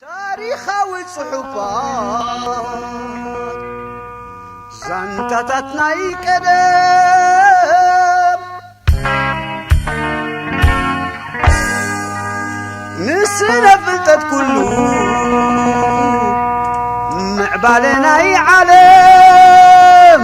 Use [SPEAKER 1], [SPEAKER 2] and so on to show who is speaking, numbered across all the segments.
[SPEAKER 1] ታሪኻዊ ጽሑፋት ዛንታታት ናይ ቀደም ንስነ ፍልጠት ኩሉ ምዕባለ ናይ ዓለም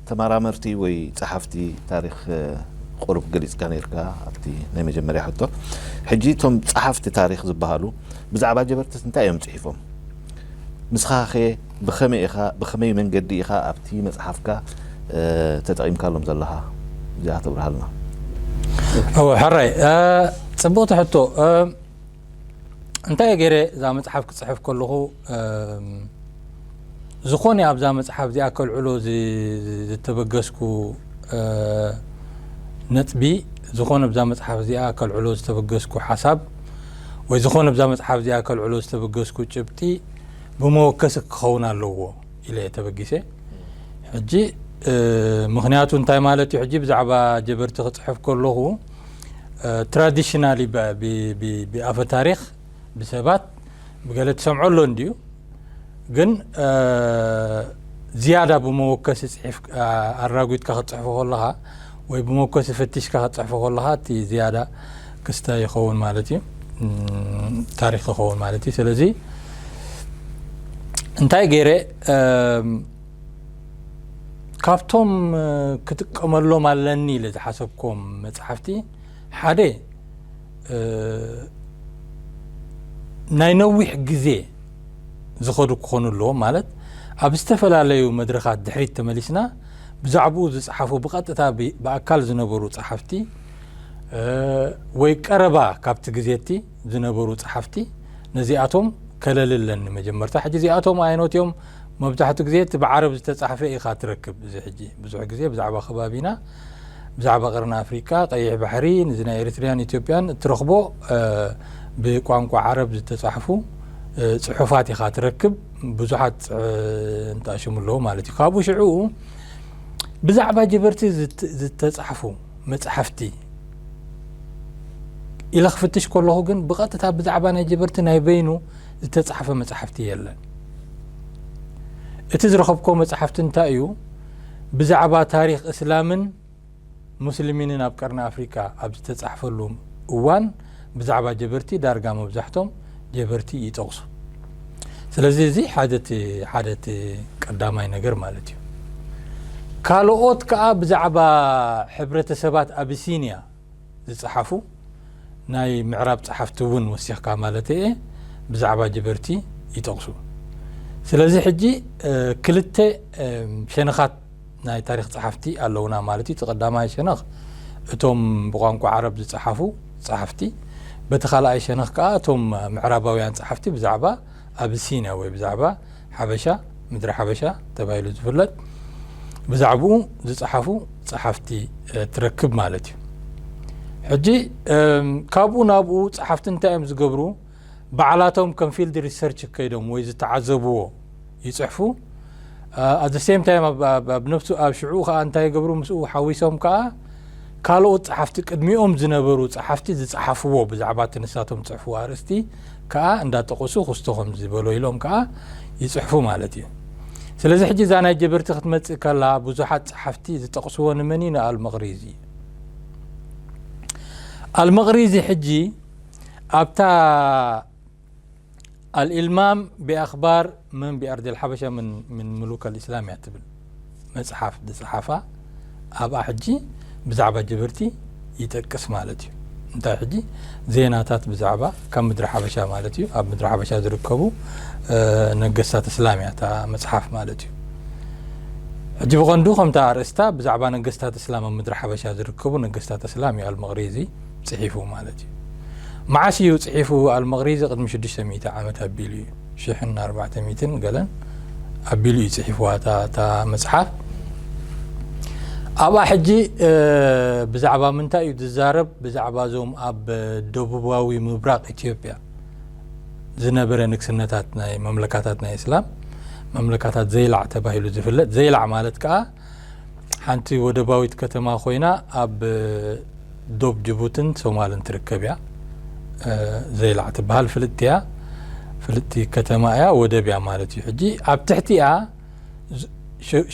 [SPEAKER 2] ተመራመርቲ ወይ ጸሓፍቲ ታሪኽ ቁሩብ ገሊጽካ ኔርካ ኣብቲ ናይ መጀመርያ ሕቶ። ሕጂ እቶም ጸሓፍቲ ታሪኽ ዝበሃሉ ብዛዕባ ጀበርትት እንታይ እዮም ጽሒፎም? ንስኻኸ ብኸመይ ኢኻ ብኸመይ መንገዲ ኢኻ ኣብቲ መጽሓፍካ ተጠቒምካሎም ዘለኻ? እዚኣ ተብርሃልና።
[SPEAKER 3] እወ ሕራይ ጽብቕቲ ሕቶ። እንታይ ገይረ እዛ መጽሓፍ ክጽሕፍ ከለኹ ዝኾነ ኣብዛ መጽሓፍ እዚኣ ከልዕሎ ዝተበገስኩ ነጥቢ ዝኾነ ብዛ መጽሓፍ እዚኣ ከልዕሎ ዝተበገስኩ ሓሳብ ወይ ዝኾነ ብዛ መጽሓፍ እዚኣ ከልዕሎ ዝተበገስኩ ጭብጢ ብመወከሲ ክኸውን ኣለዎ ኢለ ተበጊሰ ሕጂ ምክንያቱ እንታይ ማለት እዩ ሕጂ ብዛዕባ ጀበርቲ ክጽሕፍ ከለኹ ትራዲሽናሊ ብኣፈ ታሪክ ብሰባት ብገለ ትሰምዖ ኣሎ እንድዩ ግን ዝያዳ ብመወከሲ ፅሒፍ ኣራጒትካ ክትፅሕፎ ከለኻ ወይ ብመወከሲ ፈቲሽካ ክትፅሕፎ ከለኻ እቲ ዝያዳ ክስተ ይኸውን ማለት እዩ ታሪክ ይኸውን ማለት እዩ ስለዚ እንታይ ገይረ ካብቶም ክጥቀመሎም ኣለኒ ኢለ ዝሓሰብኩም መፅሓፍቲ ሓደ ናይ ነዊሕ ግዜ ዝኸዱ ክኾኑ ኣለዎ ማለት ኣብ ዝተፈላለዩ መድረኻት ድሕሪት ተመሊስና ብዛዕባኡ ዝፀሓፉ ብቐጥታ ብኣካል ዝነበሩ ፀሓፍቲ ወይ ቀረባ ካብቲ ግዜቲ ዝነበሩ ፀሓፍቲ ነዚኣቶም ከለሊ ኣለኒ መጀመርታ ሕጂ እዚኣቶም ኣየኖት እዮም መብዛሕቱ ግዜ እቲ ብዓረብ ዝተጻሕፈ ኢኻ ትረክብ እዚ ሕጂ ብዙሕ ግዜ ብዛዕባ ከባቢና ብዛዕባ ቀርኒ ኣፍሪቃ ቀይሕ ባሕሪ ንዚ ናይ ኤሪትሪያን ኢትዮጵያን እትረኽቦ ብቋንቋ ዓረብ ዝተጻሕፉ ጽሑፋት ኢኻ ትረክብ ብዙሓት እንተኣሽሙ ኣለዎ ማለት እዩ ካብኡ ሽዑ ብዛዕባ ጀበርቲ ዝተጻሕፉ መጽሓፍቲ ኢለ ክፍትሽ ከለኹ ግን ብቐጥታ ብዛዕባ ናይ ጀበርቲ ናይ በይኑ ዝተጻሕፈ መጻሕፍቲ የለን። እቲ ዝረኸብኩዎ መጻሕፍቲ እንታይ እዩ ብዛዕባ ታሪኽ እስላምን ሙስልሚንን ኣብ ቀርኒ ኣፍሪቃ ኣብ ዝተጻሕፈሉ እዋን ብዛዕባ ጀበርቲ ዳርጋ መብዛሕቶም ጀበርቲ ይጠቕሱ። ስለዚ እዚ ሓደ እቲ ሓደ እቲ ቀዳማይ ነገር ማለት እዩ። ካልኦት ከኣ ብዛዕባ ሕብረተሰባት ኣቢሲንያ ዝጸሓፉ ናይ ምዕራብ ጸሓፍቲ እውን ወሲኽካ ማለተይ እየ ብዛዕባ ጀበርቲ ይጠቕሱ። ስለዚ ሕጂ ክልተ ሸነኻት ናይ ታሪኽ ጸሓፍቲ ኣለዉና ማለት እዩ። እቲ ቀዳማይ ሸነኽ እቶም ብቋንቋ ዓረብ ዝጸሓፉ ጸሓፍቲ፣ በቲ ካልኣይ ሸነኽ ከኣ እቶም ምዕራባውያን ጸሓፍቲ ብዛዕባ ኣቢሲንያ ወይ ብዛዕባ ሓበሻ፣ ምድረ ሓበሻ ተባሂሉ ዝፍለጥ ብዛዕብኡ ዝጸሓፉ ጸሓፍቲ ትረክብ ማለት እዩ። ሕጂ ካብኡ ናብኡ ጸሓፍቲ እንታይ እዮም ዝገብሩ? ባዕላቶም ከም ፊልድ ሪሰርች ከይዶም ወይ ዝተዓዘብዎ ይጽሕፉ። ኣዘ ሴም ታይም ኣብ ነብሱ ኣብ ሽዑ ከዓ እንታይ ይገብሩ? ምስኡ ሓዊሶም ከዓ ካልኦት ጸሓፍቲ ቅድሚኦም ዝነበሩ ጸሓፍቲ ዝጸሓፍዎ ብዛዕባ እቲ ንሳቶም ዝጽሕፍዎ ኣርእስቲ ከኣ እንዳጠቀሱ ክስቶ ከምዚ በሎ ኢሎም ከኣ ይጽሕፉ ማለት እዩ ስለዚ ሕጂ እዛ ናይ ጀበርቲ ክትመጽእ ከላ ብዙሓት ጸሓፍቲ ዝጠቅስዎ ንመን እዩ ንኣልመቅሪዚ እዩ ኣልመቅሪዚ ሕጂ ኣብታ ኣልኢልማም ቢኣክባር መን ቢኣርዲ ኣልሓበሻ ምን ምሉክ ኣልእስላም እያ ትብል መጽሓፍ ዝጸሓፋ ኣብኣ ሕጂ ብዛዕባ ጅብርቲ ይጠቅስ ማለት እዩ እንታይ ሕጂ ዜናታት ብዛዕባ ካብ ምድሪ ሓበሻ ማለት እዩ ኣብ ምድሪ ሓበሻ ዝርከቡ ነገስታት እስላም እያ እታ መጽሓፍ ማለት እዩ ሕጂ ብቐንዱ ከምቲ ኣርእስታ ብዛዕባ ነገስታት እስላም ኣብ ምድሪ ሓበሻ ዝርከቡ ነገስታት እስላም እዩ ኣልመቕሪዚ ጽሒፉ ማለት እዩ መዓስ እዩ ጽሒፉ ኣልመቕሪዚ ቅድሚ 600 ዓመት ኣቢሉ እዩ ሽሕን ኣርባዕተ ሚእትን ገለን ኣቢሉ እዩ ጽሒፍዋ እታ እታ መጽሓፍ ኣብኣ ሕጂ ብዛዕባ ምንታይ እዩ ዝዛረብ ብዛዕባ እዞም ኣብ ደቡባዊ ምብራቕ ኢትዮጵያ ዝነበረ ንግስነታት ናይ መምለካታት ናይ እስላም መምለካታት ዘይላዕ ተባሂሉ ዝፍለጥ ዘይላዕ ማለት ከዓ ሓንቲ ወደባዊት ከተማ ኮይና ኣብ ዶብ ጅቡትን ሶማልን ትርከብ እያ። ዘይላዕ ትበሃል ፍልጥቲ እያ። ፍልጥቲ ከተማ እያ፣ ወደብ እያ ማለት እዩ። ሕጂ ኣብ ትሕቲኣ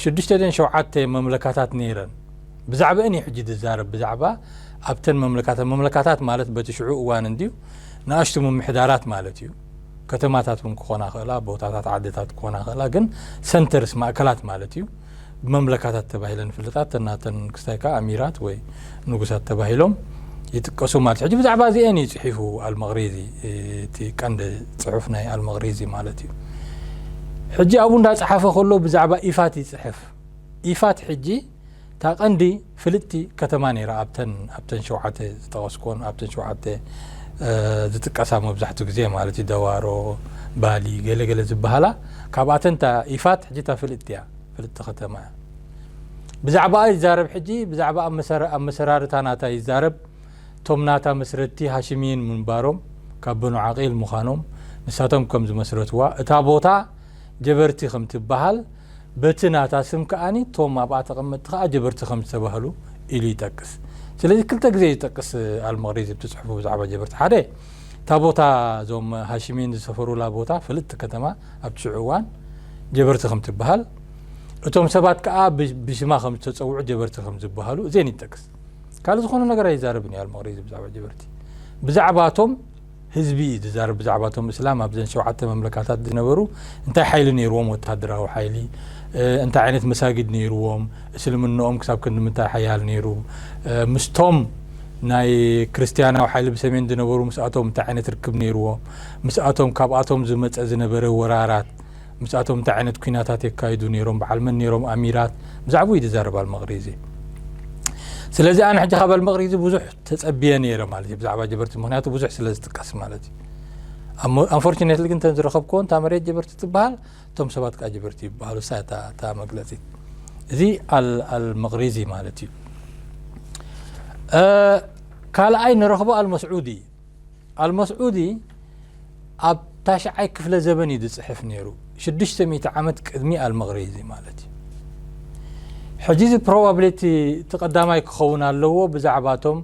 [SPEAKER 3] ሽዱሽተ ደን ሸውዓተ መምለካታት ነይረን። ብዛዕባአን እዩ ሕጂ ዝዛረብ፣ ብዛዕባ ኣብተን መምለካታት። መምለካታት ማለት በቲ ሽዑ እዋን እንድዩ ንኣሽቱ ምምሕዳራት ማለት እዩ። ከተማታት እውን ክኾና ክእላ ቦታታት ዓድታት ክኾና ክእላ ግን ሰንተርስ ማእከላት ማለት እዩ ብመምለካታት ተባሂለን ፍልጣት ተናተን ክስታይ ከዓ ኣሚራት ወይ ንጉሳት ተባሂሎም ይጥቀሱ ማለት ሕጂ ብዛዕባ እዚአን እዩ ፅሒፉ ኣልመቅሪዚ እቲ ቀንዲ ፅሑፍ ናይ ኣልመቅሪዚ ማለት እዩ ሕጂ ኣብኡ እንዳፀሓፈ ከሎ ብዛዕባ ኢፋት ይፅሕፍ ኢፋት ሕጂ እታ ቀንዲ ፍልጥቲ ከተማ ነይራ ኣብተን ኣብተን ሸውዓተ ዝጠቐስክወን ኣብተን ሸውዓተ ዝጥቀሳ መብዛሕትኡ ግዜ ማለት እዩ ደዋሮ ባሊ ገለ ገለ ዝበሃላ ካብኣተን እታ ኢፋት ሕጂ እታ ፍልጥቲ እያ ፍልጥቲ ከተማ እያ ብዛዕባኣ ይዛረብ ሕጂ ብዛዕባ ኣብ መሰራርታ ናታ ይዛረብ እቶም ናታ መስረትቲ ሃሽሚይን ምንባሮም ካብ በኑ ዓቂል ምዃኖም ንሳቶም ከም ዝመስረትዋ እታ ቦታ ጀበርቲ ከም ትበሃል፣ በቲ ናታ ስም ከኣ እቶም ኣብኣ ተቐመጥቲ ከኣ ጀበርቲ ከም ዝተባህሉ ኢሉ ይጠቅስ። ስለዚ ክልተ ግዜ እዩ ዝጠቅስ ኣልመቕሪዚ ኣብቲ ጽሑፉ ብዛዕባ ጀበርቲ። ሓደ እታ ቦታ እዞም ሃሽሚን ዝሰፈሩላ ቦታ ፍልጥቲ ከተማ ኣብቲ ሽዑ እዋን ጀበርቲ ከም ትበሃል፣ እቶም ሰባት ከኣ ብሽማ ከም ዝተጸውዑ ጀበርቲ ከም ዝበሃሉ እዜን ይጠቅስ። ካልእ ዝኾነ ነገር ኣይዛረብን እዩ ኣልመቕሪዚ ብዛዕባ ጀበርቲ። ብዛዕባ እቶም። ህዝቢ እዩ ዝዛረብ ብዛዕባ እቶም እስላም ኣብዘን ሸውዓተ መምለካታት ዝነበሩ እንታይ ሓይሊ ነይርዎም ወተሃደራዊ ሓይሊ እንታይ ዓይነት መሳጊድ ነይርዎም እስልምናኦም ክሳብ ክንዲ ምንታይ ሓያል ነይሩ ምስቶም ናይ ክርስትያናዊ ሓይሊ ብሰሜን ዝነበሩ ምስኣቶም እንታይ ዓይነት ርክብ ነይርዎ ምስኣቶም ካብኣቶም ዝመፀ ዝነበረ ወራራት ምስኣቶም እንታይ ዓይነት ኩናታት የካይዱ ነይሮም በዓል መን ነይሮም ኣሚራት ብዛዕባኡ እዩ ዝዛረብ ኣልመቕሪዚ ስለዚ ኣነ ሕጂ ካብ ኣልመቕሪዚ ብዙሕ ተጸብየ ነይረ ማለት እዩ ብዛዕባ ጀበርቲ ምክንያቱ ብዙሕ ስለ ዝጥቀስ ማለት እዩ ኣንፎርቹኔትሊ ግን እተን ዝረኸብክዎ እንታ መሬት ጀበርቲ ትበሃል እቶም ሰባት ከዓ ጀበርቲ ይበሃሉ እሳ እታ መግለፂት እዚ ኣልመቕሪዚ ማለት እዩ ካልኣይ ንረኽቦ ኣልመስዑዲ ኣልመስዑዲ ኣብ ታሽዓይ ክፍለ ዘበን እዩ ዝጽሕፍ ነይሩ፣ ሽዱሽተ ሚእቲ ዓመት ቅድሚ ኣልመግሪዚ ማለት እዩ። ሕጂ እዚ ፕሮባብሊቲ እቲ ቀዳማይ ክኸውን ኣለዎ ብዛዕባ እቶም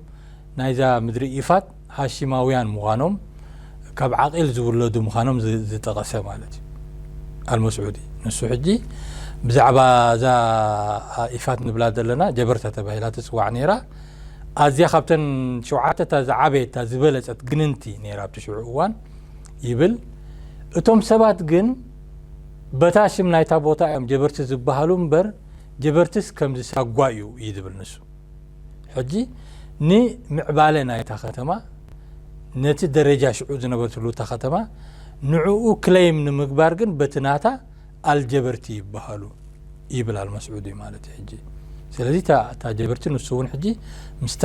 [SPEAKER 3] ናይዛ ምድሪ ኢፋት ሃሺማውያን ምዃኖም ካብ ዓቂል ዝውለዱ ምዃኖም ዝጠቐሰ ማለት እዩ ኣልመስዑዲ ንሱ ሕጂ ብዛዕባ እዛ ኢፋት ንብላ ዘለና ጀበርታ ተባሂላ ትጽዋዕ ነይራ ኣዝያ ካብተን ሸውዓተ እታ ዝዓበየት እታ ዝበለጸት ግንንቲ ነይራ ኣብቲ ሽዑ እዋን ይብል። እቶም ሰባት ግን በታ ሽም ናይታ ቦታ እዮም ጀበርቲ ዝበሃሉ እምበር ጀበርትስ ከምዚ ሳጓ እዩ እዩ ዝብል ንሱ። ሕጂ ንምዕባለ ናይታ ከተማ ነቲ ደረጃ ሽዑ ዝነበርትሉ እታ ከተማ ንዕኡ ክለይም ንምግባር ግን በቲ ናታ ኣልጀበርቲ ይበሃሉ ይብል ኣልመስዑዲ ማለት እዩ ሕጂ ስለዚ እታ ጀበርቲ ንሱ እውን ሕጂ ምስታ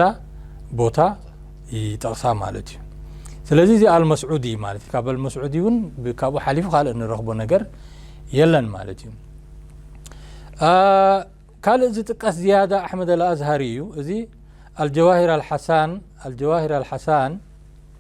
[SPEAKER 3] ቦታ ይጠቕሳ ማለት እዩ ስለዚ እዚ ኣልመስዑዲ ማለት እዩ ካብ ኣልመስዑዲ እውን ካብኡ ሓሊፉ ካልእ ንረኽቦ ነገር የለን ማለት እዩ ካልእ ዝጥቀስ ዝያዳ ኣሕመድ ኣልኣዝሃሪ እዩ እዚ ኣልጀዋሂር ኣልሓሳን ኣልጀዋሂር ኣልሓሳን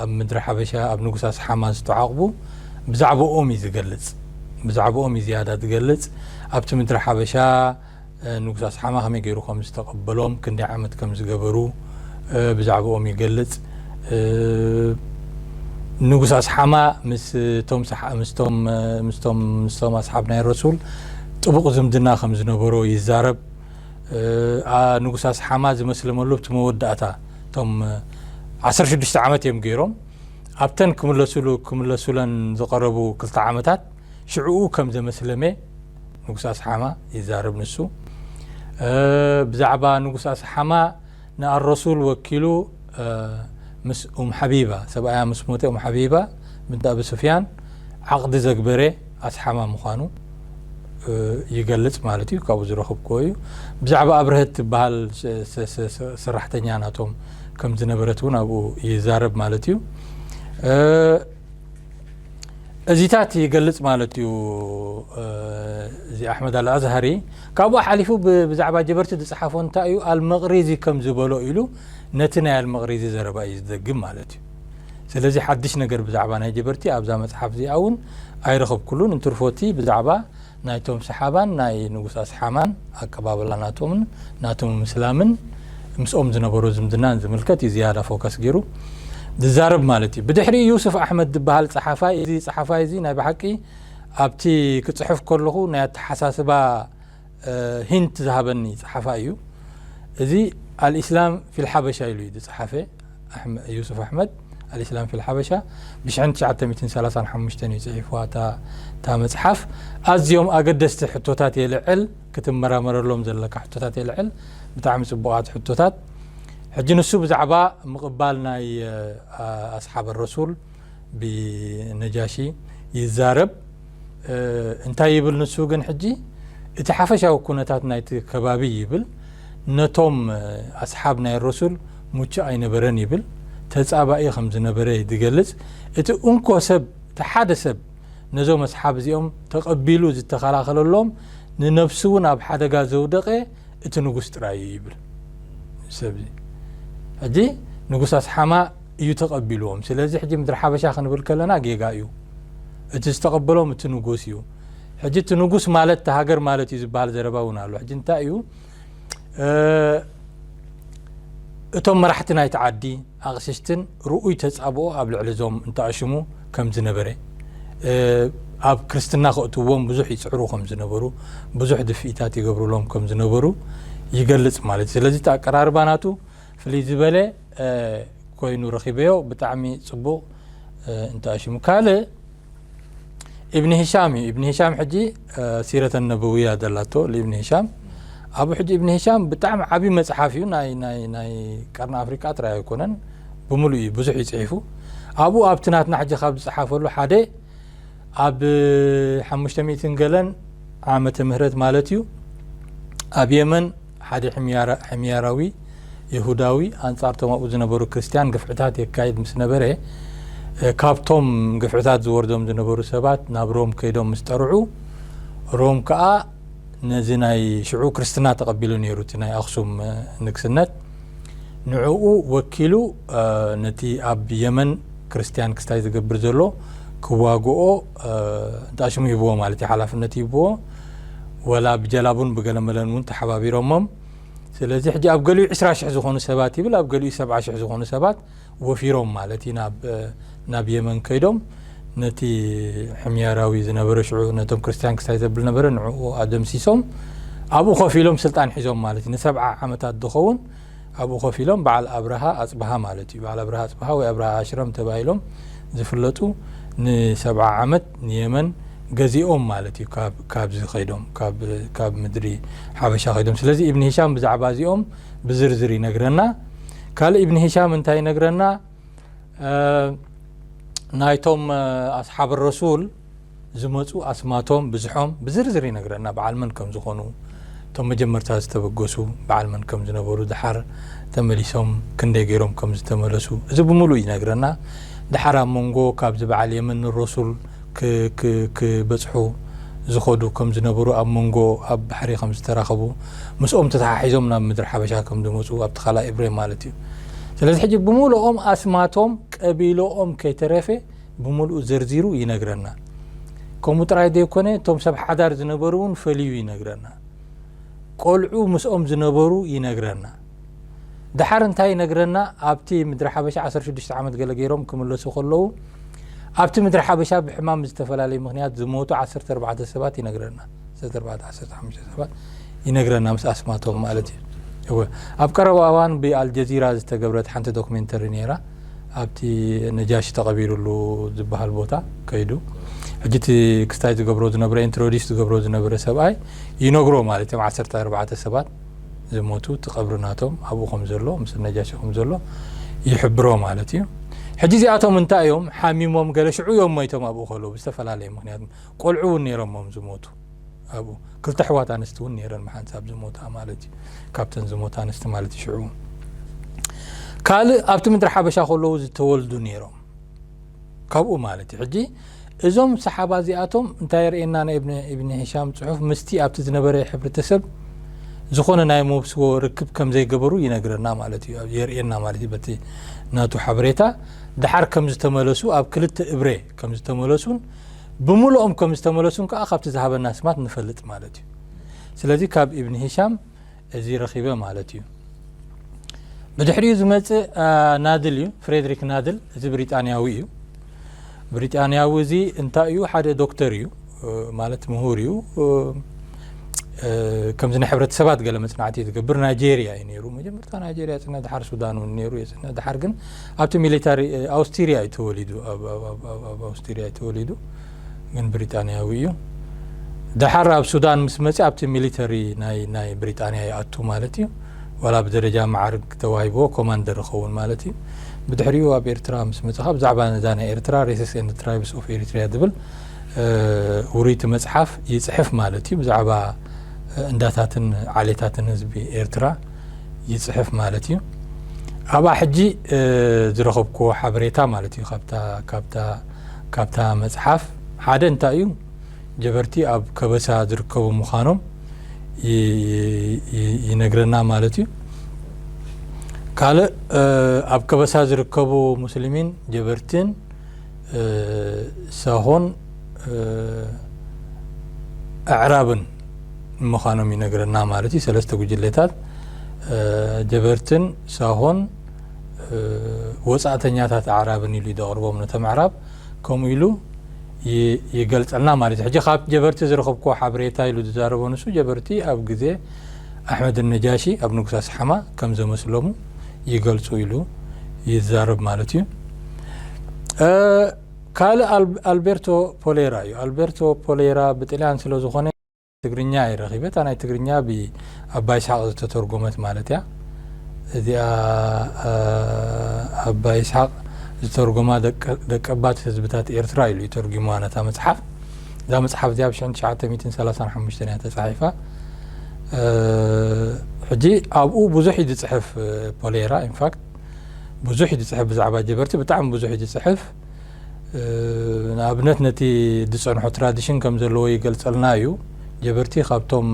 [SPEAKER 3] ኣብ ምድሪ ሓበሻ ኣብ ንጉስ ኣስሓማ ዝተዓቕቡ ብዛዕባኦም እዩ ዝገልጽ ብዛዕባኦም እዩ ዝያዳ ዝገልጽ ኣብቲ ምድሪ ሓበሻ ንጉስ ኣስሓማ ከመይ ገይሩ ከም ዝተቐበሎም ክንደይ ዓመት ከም ዝገበሩ ብዛዕባኦም ይገልጽ ንጉስ ኣስሓማ ምስቶም ምስቶም ምስቶም ምስቶም ኣስሓብ ናይ ረሱል ጥቡቕ ዝምድና ከም ዝነበሮ ይዛረብ ንጉስ ኣስሓማ ዝመስለመሉ እቲ መወዳእታ እቶም 16 ዓመት እዮም ገይሮም ኣብተን ክምለሱሉ ክምለሱለን ዝቐረቡ ክልተ ዓመታት ሽዕኡ ከም ዘመስለመ ንጉስ ኣስሓማ ይዛረብ ንሱ ብዛዕባ ንጉስ ኣስሓማ ንኣልረሱል ወኪሉ ምስ ኡም ሓቢባ፣ ሰብኣያ ምስ ሞተ ኡም ሓቢባ ብንት ኣቢ ሱፍያን ዓቕዲ ዘግበረ ኣስሓማ ምዃኑ ይገልጽ ማለት እዩ። ካብኡ ዝረኽብክዎ እዩ። ብዛዕባ ኣብርሀት ትበሃል ሰራሕተኛ ናቶም ከም ዝነበረት እውን ኣብኡ ይዛረብ ማለት እዩ። እዚታት ይገልጽ ማለት እዩ እዚ ኣሕመድ ኣልኣዝሃሪ ካብኡ ሓሊፉ ብዛዕባ ጀበርቲ ዝፅሓፎ እንታይ እዩ ኣልመቕሪዚ ከም ዝበሎ ኢሉ ነቲ ናይ ኣልመቕሪዚ ዘረባ እዩ ዝደግም ማለት እዩ ስለዚ ሓድሽ ነገር ብዛዕባ ናይ ጀበርቲ ኣብዛ መፅሓፍ እዚኣ እውን ኣይረኸብኩሉን እንትርፎቲ ብዛዕባ ናይቶም ሰሓባን ናይ ንጉስ ኣስሓማን ኣቀባብላ ናቶምን ናቶም ምስላምን ምስኦም ዝነበሮ ዝምድናን ዝምልከት እዩ ዝያዳ ፎከስ ገይሩ ዝዛረብ ማለት እዩ ብድሕሪ ዩሱፍ ኣሕመድ ዝበሃል ጸሓፋይ እዚ ጸሓፋይ እዚ ናይ ብሓቂ ኣብቲ ክጽሕፍ ከለኹ ናይ ኣተሓሳስባ ሂንት ዝሃበኒ ጸሓፋይ እዩ እዚ ኣልእስላም ፊልሓበሻ ኢሉ እዩ ዝጸሓፈ ዩሱፍ ኣሕመድ ኣልእስላም ፊል ሓበሻ ብሽሕን ትሽዓተ ሚእትን ሰላሳን ሓሙሽተን እዩ ጽሒፍዋ እታ እታ መጽሓፍ ኣዝዮም ኣገደስቲ ሕቶታት የልዕል ክትመራመረሎም ዘለካ ሕቶታት የልዕል ብጣዕሚ ጽቡቓት ሕቶታት ሕጂ ንሱ ብዛዕባ ምቕባል ናይ ኣስሓብ ረሱል ብነጃሺ ይዛረብ እንታይ ይብል ንሱ ግን ሕጂ እቲ ሓፈሻዊ ኩነታት ናይቲ ከባቢ ይብል ነቶም ኣስሓብ ናይ ረሱል ሙቹእ ኣይነበረን ይብል ተጻባኢ ከም ዝነበረ ይገልጽ እቲ እንኮ ሰብ እቲ ሓደ ሰብ ነዞም ኣስሓብ እዚኦም ተቐቢሉ ዝተኸላኸለሎም ንነብሱ እውን ኣብ ሓደጋ ዘውደቐ እቲ ንጉስ ጥራይ እዩ ይብል ሰብ ሕጂ ንጉስ ኣስሓማ እዩ ተቀቢልዎም ስለዚ ሕጂ ምድሪ ሓበሻ ክንብል ከለና ጌጋ እዩ እቲ ዝተቀበሎም እቲ ንጉስ እዩ ሕጂ እቲ ንጉስ ማለት እቲ ሃገር ማለት እዩ ዝበሃል ዘረባ እውን ኣሎ ሕጂ እንታይ እዩ እቶም መራሕቲ ናይቲ ዓዲ ኣቅሽሽትን ርኡይ ተጻብኦ ኣብ ልዕሊ እዞም እንተኣሽሙ ከም ዝነበረ ኣብ ክርስትና ከእትዎም ብዙሕ ይጽዕሩ ከም ዝነበሩ ብዙሕ ድፍኢታት ይገብሩሎም ከም ዝነበሩ ይገልጽ ማለት እዩ ስለዚ እቲ ኣቀራርባ ናቱ ፍልይ ዝበለ ኮይኑ ረኪበዮ ብጣዕሚ ጽቡቅ እንተኣ ሽሙ ካልእ ኢብኒ ሂሻም እዩ ኢብኒ ሂሻም ሕጂ ሲረተ ነበውያ ዘላቶ ኢብኒ ሂሻም ኣብኡ ሕጂ ኢብኒ ሂሻም ብጣዕሚ ዓብዪ መጽሓፍ እዩ ናይ ናይ ናይ ቀርኒ ኣፍሪቃ ጥራይ ኣይኮነን ብምሉእ እዩ ብዙሕ ይጽሒፉ ኣብኡ ኣብቲ ናትና ሕጂ ካብ ዝጸሓፈሉ ሓደ ኣብ ሓሙሽተ ሚእትን ገለን ዓመተ ምህረት ማለት እዩ ኣብ የመን ሓደ ሕምያራዊ ይሁዳዊ ኣንጻር ቶም ኣብኡ ዝነበሩ ክርስትያን ግፍዕታት የካይድ ምስ ነበረ ካብቶም ግፍዕታት ዝወርዶም ዝነበሩ ሰባት ናብ ሮም ከይዶም ምስ ጠርዑ ሮም ከዓ ነዚ ናይ ሽዑ ክርስትና ተቐቢሉ ነይሩ እቲ ናይ ኣኽሱም ንግስነት ንዕኡ ወኪሉ ነቲ ኣብ የመን ክርስትያን ክስታይ ዝገብር ዘሎ ክዋግኦ እንታ ሽሙ ሂብዎ ማለት እዩ ሓላፍነት ሂብዎ ወላ ብጀላቡን ብገለመለን እውን ተሓባቢሮሞም ስለዚ ሕጂ ኣብ ገሊኡ ዕስራ ሽሕ ዝኾኑ ሰባት ይብል ኣብ ገሊኡ ሰብዓ ሽሕ ዝኾኑ ሰባት ወፊሮም ማለት እዩ ናብ ናብ የመን ከይዶም ነቲ ሕምያራዊ ዝነበረ ሽዑ ነቶም ክርስትያን ክስታይ ዘብል ነበረ ንዕኡ ኣደምሲሶም ኣብኡ ኮፍ ኢሎም ስልጣን ሒዞም ማለት እዩ ንሰብዓ ዓመታት ዝኸውን ኣብኡ ኮፍ ኢሎም በዓል ኣብርሃ ኣፅብሃ ማለት እዩ በዓል ኣብርሃ ኣፅብሃ ወይ ኣብርሃ ኣሽረም ተባሂሎም ዝፍለጡ ንሰብዓ ዓመት ንየመን ገዚኦም ማለት እዩ ካብዚ ከይዶም ካብ ምድሪ ሓበሻ ከይዶም ስለዚ እብኒ ሂሻም ብዛዕባ እዚኦም ብዝርዝር ይነግረና ካልእ ኢብን ሂሻም እንታይ ይነግረና ናይቶም ኣስሓብ ረሱል ዝመፁ ኣስማቶም ብዝሖም ብዝርዝር ይነግረና በዓል መን ከም ዝኾኑ እቶም መጀመርታ ዝተበገሱ በዓል መን ከም ዝነበሩ ድሓር ተመሊሶም ክንደይ ገይሮም ከም ዝተመለሱ እዚ ብምሉእ ይነግረና ድሓር ኣብ መንጎ ካብዚ በዓል የመን ረሱል ክበጽሑ ዝኸዱ ከም ዝነበሩ፣ ኣብ መንጎ ኣብ ባሕሪ ከም ዝተራኸቡ፣ ምስኦም ተተሓሒዞም ናብ ምድሪ ሓበሻ ከም ዝመጹ፣ ኣብቲ ካልኣይ እብሬ ማለት እዩ። ስለዚ ሕጂ ብምሉኦም ኣስማቶም ቀቢሎኦም ከይተረፈ ብምልኡ ዘርዚሩ ይነግረና። ከምኡ ጥራይ ዘይኮነ እቶም ሰብ ሓዳር ዝነበሩ እውን ፈልዩ ይነግረና። ቆልዑ ምስኦም ዝነበሩ ይነግረና። ደሓር እንታይ ይነግረና ኣብቲ ምድሪ ሓበሻ ዓሰርተ ሽዱሽተ ዓመት ገለ ገይሮም ክምለሱ ከለዉ ኣብቲ ምድሪ ሓበሻ ብሕማም ዝተፈላለየ ምክንያት ዝሞቱ ዓሰርተ ኣርባዕተ ሰባት ይነግረና ዓሰርተ ኣርባዕተ ዓሰርተ ሓሙሽተ ሰባት ይነግረና ምስ ኣስማቶም ማለት እዩ እወ ኣብ ቀረባ እዋን ብኣልጀዚራ ዝተገብረት ሓንቲ ዶክሜንተሪ ነይራ ኣብቲ ነጃሽ ተቐቢሩሉ ዝበሃል ቦታ ከይዱ ሕጂ እቲ ክስታይ ዝገብሮ ዝነበረ ኢንትሮዲስ ዝገብሮ ዝነበረ ሰብኣይ ይነግሮ ማለት እዮም ዓሰርተ ኣርባዕተ ሰባት ዝሞቱ እቲ ቀብሪ ናቶም ኣብኡ ከም ዘሎ ምስ ነጃሺ ከም ዘሎ ይሕብሮ ማለት እዩ ሕጂ እዚኣቶም እንታይ እዮም ሓሚሞም ገለ ሽዑ እዮም ሞይቶም ኣብኡ ከለዉ ብዝተፈላለየ ምክንያት ቆልዑ እውን ነይሮሞም ዝሞቱ ኣብኡ ክልተ ኣሕዋት ኣንስቲ እውን ነይረን መሓንሳብ ዝሞታ ማለት እዩ ካብተን ዝሞታ ኣንስቲ ማለት እዩ ሽዑ ካልእ ኣብቲ ምድሪ ሓበሻ ከለዉ ዝተወልዱ ነይሮም ካብኡ ማለት እዩ ሕጂ እዞም ሰሓባ እዚኣቶም እንታይ የርእየና ናይ እብኒ ሂሻም ፅሑፍ ምስቲ ኣብቲ ዝነበረ ሕብረተሰብ ዝኾነ ናይ መብስቦ ርክብ ከም ዘይገበሩ ይነግረና ማለት እዩ የርእየና ማለት እዩ በቲ ናቱ ሓበሬታ ድሓር ከም ዝተመለሱ ኣብ ክልተ እብረ ከም ዝተመለሱን ብምልኦም ከም ዝተመለሱን ከዓ ካብቲ ዝሃበና ስማት ንፈልጥ ማለት እዩ ስለዚ ካብ እብኒ ሂሻም እዚ ረኺበ ማለት እዩ። ብድሕሪኡ ዝመጽእ ናድል እዩ፣ ፍሬድሪክ ናድል። እዚ ብሪጣንያዊ እዩ። ብሪጣንያዊ እዚ እንታይ እዩ? ሓደ ዶክተር እዩ፣ ማለት ምሁር እዩ። ከምዚ ናይ ሕብረተሰባት ገለ መጽናዕቲ እዩ ዝገብር። ናይጀርያ እዩ ነይሩ፣ መጀመርታ ናይጀርያ ጽነ ድሓር ሱዳን እውን ነይሩ እዩ። ጽነ ድሓር ግን ኣብቲ ሚሊታሪ ኣውስትሪያ እዩ ተወሊዱ፣ ኣብ ኣውስትሪያ እዩ ተወሊዱ። ግን ብሪጣንያዊ እዩ ደሓር ኣብ ሱዳን ምስ መጽ ኣብቲ ሚሊተሪ ናይ ናይ ብሪጣንያ ይኣቱ ማለት እዩ ዋላ ብደረጃ መዓርግ ተዋሂብዎ ኮማንደር ይኸውን ማለት እዩ ብድሕሪኡ ኣብ ኤርትራ ምስ መጽኻ ብዛዕባ ነዛ ናይ ኤርትራ ሬስስ ኤንድ ትራይብስ ኦፍ ኤሪትሪያ ዝብል ውሩይቲ መጽሓፍ ይጽሕፍ ማለት እዩ ብዛዕባ እንዳታትን ዓሌታትን ህዝቢ ኤርትራ ይጽሕፍ ማለት እዩ ኣብኣ ሕጂ ዝረኸብኩዎ ሓበሬታ ማለት እዩ ካብታ ካብታ መጽሓፍ ሓደ እንታይ እዩ ጀበርቲ ኣብ ከበሳ ዝርከቡ ምዃኖም ይነግረና ማለት እዩ። ካልእ ኣብ ከበሳ ዝርከቡ ሙስሊሚን ጀበርቲን ሳሆን ኣዕራብን ምዃኖም ይነግረና ማለት እዩ። ሰለስተ ጉጅሌታት ጀበርትን ሳሆን ወጻእተኛታት ኣዕራብን ኢሉ ደቕርቦም ነቶም ኣዕራብ ከምኡ ኢሉ ይገልጸልና ማለት እዩ ሕጂ ካብ ጀበርቲ ዝረኸብኩዎ ሓበሬታ ኢሉ ዝዛረቦ ንሱ ጀበርቲ ኣብ ግዜ ኣሕመድ ነጃሺ ኣብ ንጉስ ኣስሓማ ከም ዘመስለሙ ይገልጹ ኢሉ ይዛረብ ማለት እዩ ካልእ ኣልቤርቶ ፖሌራ እዩ ኣልቤርቶ ፖሌራ ብጥልያን ስለ ዝኾነ ትግርኛ እየ ረኪበ እታ ናይ ትግርኛ ብ ኣባ ይስሓቅ ዝተተርጎመት ማለት እያ እዚኣ ኣባ ይስሓቅ ዝተርጎማ ደቀባት ህዝብታት ኤርትራ ኢሉ እዩ ተርጉሙዋ ነታ መጽሓፍ እዛ መጽሓፍ እዚኣ ብ ሽሕን ትሽዓተ ሚእትን ሰላሳን ሓሙሽተን እያ ተጻሒፋ ሕጂ ኣብኡ ብዙሕ እዩ ዝጽሕፍ ፖሌራ ኢንፋክት ብዙሕ እዩ ዝጽሕፍ ብዛዕባ ጀበርቲ ብጣዕሚ ብዙሕ እዩ ዝጽሕፍ ንኣብነት ነቲ ዝጸንሖ ትራዲሽን ከም ዘለዎ ይገልጸልና እዩ። ጀበርቲ ካብቶም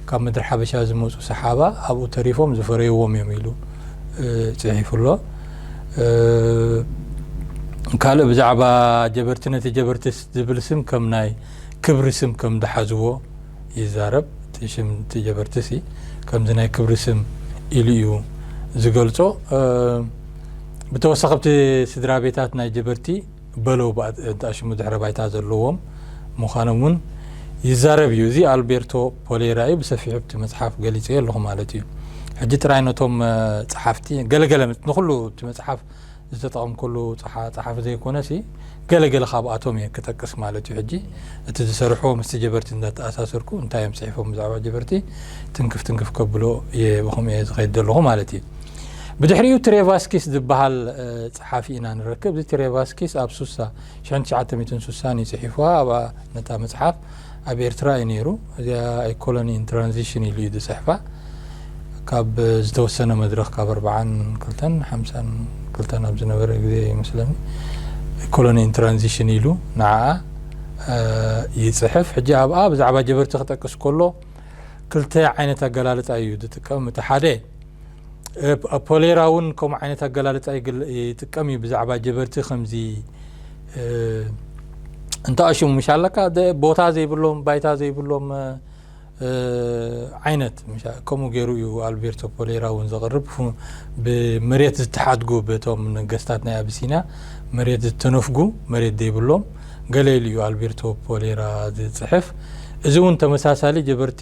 [SPEAKER 3] ካብ ምድሪ ሓበሻ ዝመጹ ሰሓባ ኣብኡ ተሪፎም ዝፈረይዎም እዮም ኢሉ ጽሒፉ ኣሎ። ካልእ ብዛዕባ ጀበርቲ ነቲ ጀበርቲ ዝብል ስም ከም ናይ ክብሪ ስም ከም ዝሓዝዎ ይዛረብ። እቲ ሽም እቲ ጀበርቲ ሲ ከምዚ ናይ ክብሪ ስም ኢሉ እዩ ዝገልጾ። ብተወሳኺ ኣብቲ ስድራቤታት ናይ ጀበርቲ በሎ እንትኣሽሙ ድሕረ ባይታ ዘለዎም ምዃኖም እውን ይዛረብ እዩ። እዚ ኣልቤርቶ ፖሌራ እዩ፣ ብሰፊሑ ኣብቲ መጽሓፍ ገሊጸዮ ኣለኹ ማለት እዩ። ሕጂ ጥራይ ነቶም ጸሓፍቲ ገለ ገለ ንኹሉ እቲ መጽሓፍ ዝተጠቐምኩሉ ጸሓፊ ዘይኮነሲ ገለ ገለ ካብኣቶም እየ ክጠቅስ ማለት እዩ። ሕጂ እቲ ዝሰርሕዎ ምስቲ ጀበርቲ እንዳተኣሳሰርኩ እንታይ እዮም ጽሒፎም ብዛዕባ ጀበርቲ ትንክፍ ትንክፍ ከብሎ እየ ብኸምኡ እየ ዝኸይድ ዘለኹ ማለት እዩ። ብድሕሪኡ ትሬቫስኪስ ዝበሃል ጸሓፊ ኢና ንረክብ። እዚ ትሬቫስኪስ ኣብ ሱሳ፣ ሽሕን ትሽዓተ ሚእትን ሱሳን እዩ ጽሒፍዋ። ኣብኣ ነታ መጽሓፍ ኣብ ኤርትራ እዩ ነይሩ። እዚኣ A Colony in Transition ኢሉ እዩ ዝጽሕፋ። ካብ ዝተወሰነ መድረኽ ካብ ኣርብዓን ክልተን ሓምሳን ክልተን ኣብ ዝነበረ ግዜ ይመስለኒ A Colony in Transition ኢሉ ንዓኣ ይጽሕፍ። ሕጂ ኣብኣ ብዛዕባ ጀበርቲ ክጠቅስ ከሎ ክልተ ዓይነት ኣገላልጻ እዩ ዝጥቀም። እቲ ሓደ ፖሌራ እውን ከምኡ ዓይነት ኣገላልፃ ይጥቀም እዩ ብዛዕባ ጀበርቲ ከምዚ እንተኣሽሙ ምሽ ኣለካ ቦታ ዘይብሎም ባይታ ዘይብሎም ዓይነት ከምኡ ገይሩ እዩ ኣልቤርቶ ፖሌራ እውን ዘቕርብ ብመሬት ዝተሓድጉ በቶም ነገስታት ናይ ኣብሲንያ መሬት ዝተነፍጉ መሬት ዘይብሎም ገለ ኢሉ እዩ ኣልቤርቶ ፖሌራ ዝፅሕፍ እዚ እውን ተመሳሳሊ ጀበርቲ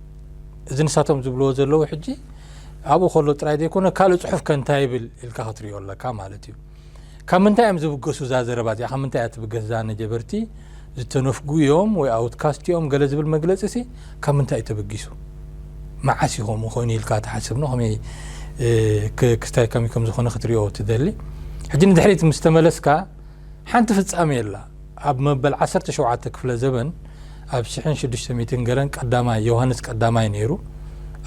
[SPEAKER 3] እዚ ንሳቶም ዝብልዎ ዘለዉ ሕጂ ኣብኡ ከሎ ጥራይ ዘይኮነ ካልእ ጽሑፍ ከ እንታይ ይብል ኢልካ ክትሪኦ ኣለካ ማለት እዩ ካብ ምንታይ እዮም ዝብገሱ እዛ ዘረባ እዚኣ ካብ ምንታይ እያ ትብገስ እዛ ነጀበርቲ ዝተነፍጉ እዮም ወይ ኣውትካስት እዮም ገለ ዝብል መግለጺ ሲ ካብ ምንታይ እዩ ተበጊሱ መዓስ እዩ ከምኡ ኮይኑ ኢልካ ትሓስብ ን ከመይ ክስታይ ከመይ ከም ዝኾነ ክትሪኦ ትደሊ ሕጂ ንድሕሪት ምስ ተመለስካ ሓንቲ ፍጻሜ ኣላ። ኣብ መበል ዓሰርተ ሸውዓተ ክፍለ ዘበን ኣብ ሽሕን ሽዱሽተ ሚእትን ገለን ቀዳማይ ዮሃንስ ቀዳማይ ነይሩ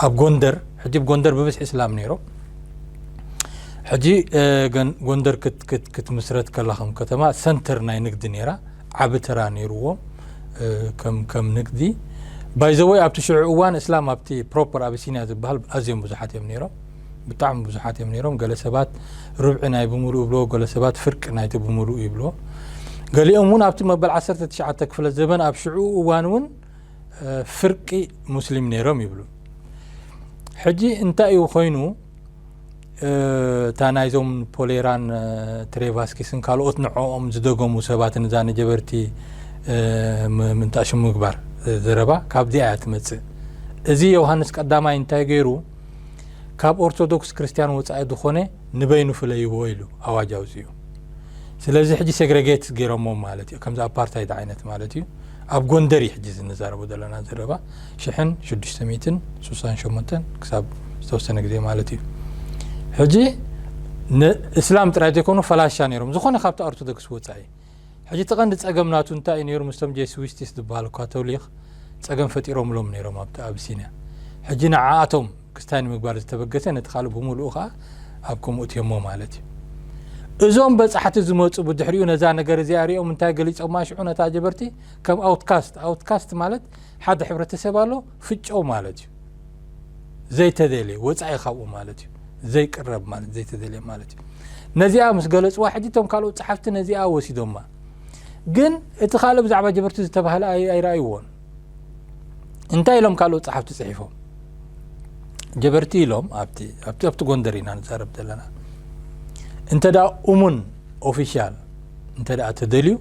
[SPEAKER 3] ኣብ ጎንደር ሕጂ ጎንደር ብብዝሒ እስላም ነይሮም ሕጂ ጎንደር ክትምስረት ከላ ከም ከተማ ሰንተር ናይ ንግዲ ነይራ ዓቢ ተራ ነይርዎም ከም ንግዲ ባይዘወይ ኣብቲ ሽዑ እዋን እስላም ኣብቲ ፕሮፐር ኣቢሲኒያ ዝበሃል ኣዝዮም ብዙሓት እዮም ነይሮም ብጣዕሚ ብዙሓት እዮም ነይሮም ገለ ሰባት ርብዒ ናይ ብምሉእ ይብሎ ገለ ሰባት ፍርቂ ናይቲ ብምሉእ ይብሎ ገሊኦም እውን ኣብቲ መበል 19 ክፍለ ዘበን ኣብ ሽዑ እዋን እውን ፍርቂ ሙስሊም ነይሮም ይብሉ ሕጂ እንታይ እዩ ኮይኑ እታ ናይዞም ፖሌራን ትሬቫስኪስን ካልኦት ንዕኦም ዝደገሙ ሰባትን እዛ ንጀበርቲ ምንጣሹ ምግባር ዘረባ ካብዚኣ እያ ትመፅእ እዚ ዮሃንስ ቀዳማይ እንታይ ገይሩ ካብ ኦርቶዶክስ ክርስትያን ወጻኢ ዝኾነ ንበይኑ ፍለይዎ ኢሉ ኣዋጅ ኣውጺኡ ስለዚ ሕጂ ሴግሬጌት ገይሮሞ ማለት እዩ ከምዚ ኣፓርታይድ ዓይነት ማለት እዩ ኣብ ጎንደር እዩ ሕጂ ዝንዛረቦ ዘለና ዘረባ ሽሕን ሽዱሽተ ሚትን ስሳን ሸሞንተን ክሳብ ዝተወሰነ ግዜ ማለት እዩ ሕጂ ንእስላም ጥራይ ዘይኮኑ ፈላሻ ነይሮም ዝኾነ ካብቲ ኦርቶዶክስ ወፃኢ ሕጂ እቲ ቀንዲ ጸገም ናቱ እንታይ እዩ ኔሩ ምስቶም ጄስዊስቲስ ዝብሃሉ ካቶሊኽ ጸገም ፈጢሮምሎም ኔሮም ኣብቲ ኣብሲንያ ሕጂ ንዓኣቶም ክስታይ ንምግባር ዝተበገሰ ነቲ ካልእ ብሙሉኡ ከኣ ኣብ ከምኡ እትዮሞ ማለት እዩ እዞም በጻሕቲ ዝመጹ ብድሕሪኡ ነዛ ነገር እዚኣ ሪኦም እንታይ ገሊጾማ ሽዑ ነታ ጀበርቲ ከም ኣውትካስት ኣውትካስት ማለት ሓደ ሕብረተሰብ ኣሎ ፍጨው ማለት እዩ ዘይተደልየ ወፃኢ ካብኡ ማለት እዩ ዘይቅረብ ማለት ዘይተደልየ ማለት እዩ ነዚኣ ምስ ገለፅዋ ሕጂ እቶም ካልኦት ፀሓፍቲ ነዚኣ ወሲዶማ ግን እቲ ካልእ ብዛዕባ ጀበርቲ ዝተባህለ ኣይረኣይዎን እንታይ ኢሎም ካልኦት ፀሓፍቲ ፅሒፎም ጀበርቲ ኢሎም ኣብቲ ጎንደር ኢና ንዛረብ ዘለና እንተ እሙን ኦፊሻል እንተ ተደልዩ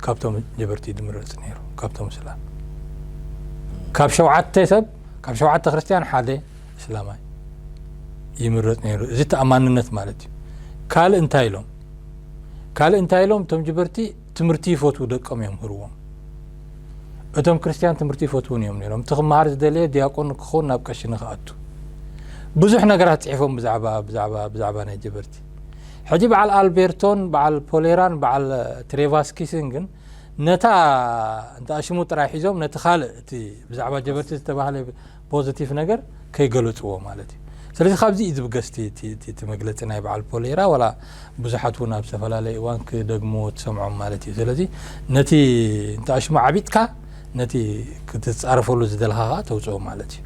[SPEAKER 3] ካብቶም ጀበርቲ ድምረጽ ነይሩ ካብቶም ስላም ካብ ሸውዓተ ሰብ ካብ ሸውዓተ ክርስትያን ሓደ እስላማይ ይምረጽ ነይሩ እዚ ተኣማንነት ማለት እዩ ካልእ እንታይ ኢሎም ካልእ እንታይ ኢሎም እቶም ጀበርቲ ትምህርቲ ይፈትዉ ደቀም እዮም ህርዎም እቶም ክርስትያን ትምህርቲ ይፈትውን እዮም ነይሮም እቲ ክመሃር ዝደለየ ዲያቆን ክኸውን ናብ ቀሺ ንክኣቱ ብዙሕ ነገራት ፅሒፎም ብዛዕባ ብዛዕባ ብዛዕባ ናይ ጀበርቲ ሕጂ በዓል ኣልቤርቶን በዓል ፖሌራን በዓል ትሬቫስኪስን ግን ነታ እንተኣ ሽሙ ጥራይ ሒዞም ነቲ ካልእ እቲ ብዛዕባ ጀበርቲ ዝተባህለ ፖዚቲቭ ነገር ከይገለጽዎ ማለት እዩ ስለዚ ካብዚ እዩ ዝብገስ እቲ መግለፂ ናይ በዓል ፖሌራ ዋላ ብዙሓት እውን ኣብ ዝተፈላለየ እዋን ክደግምዎ ትሰምዖም ማለት እዩ ስለዚ ነቲ እንተኣ ሽሙ ዓቢጥካ ነቲ ክትጻረፈሉ ዝደልኻ ከኣ ተውጽኦ ማለት እዩ።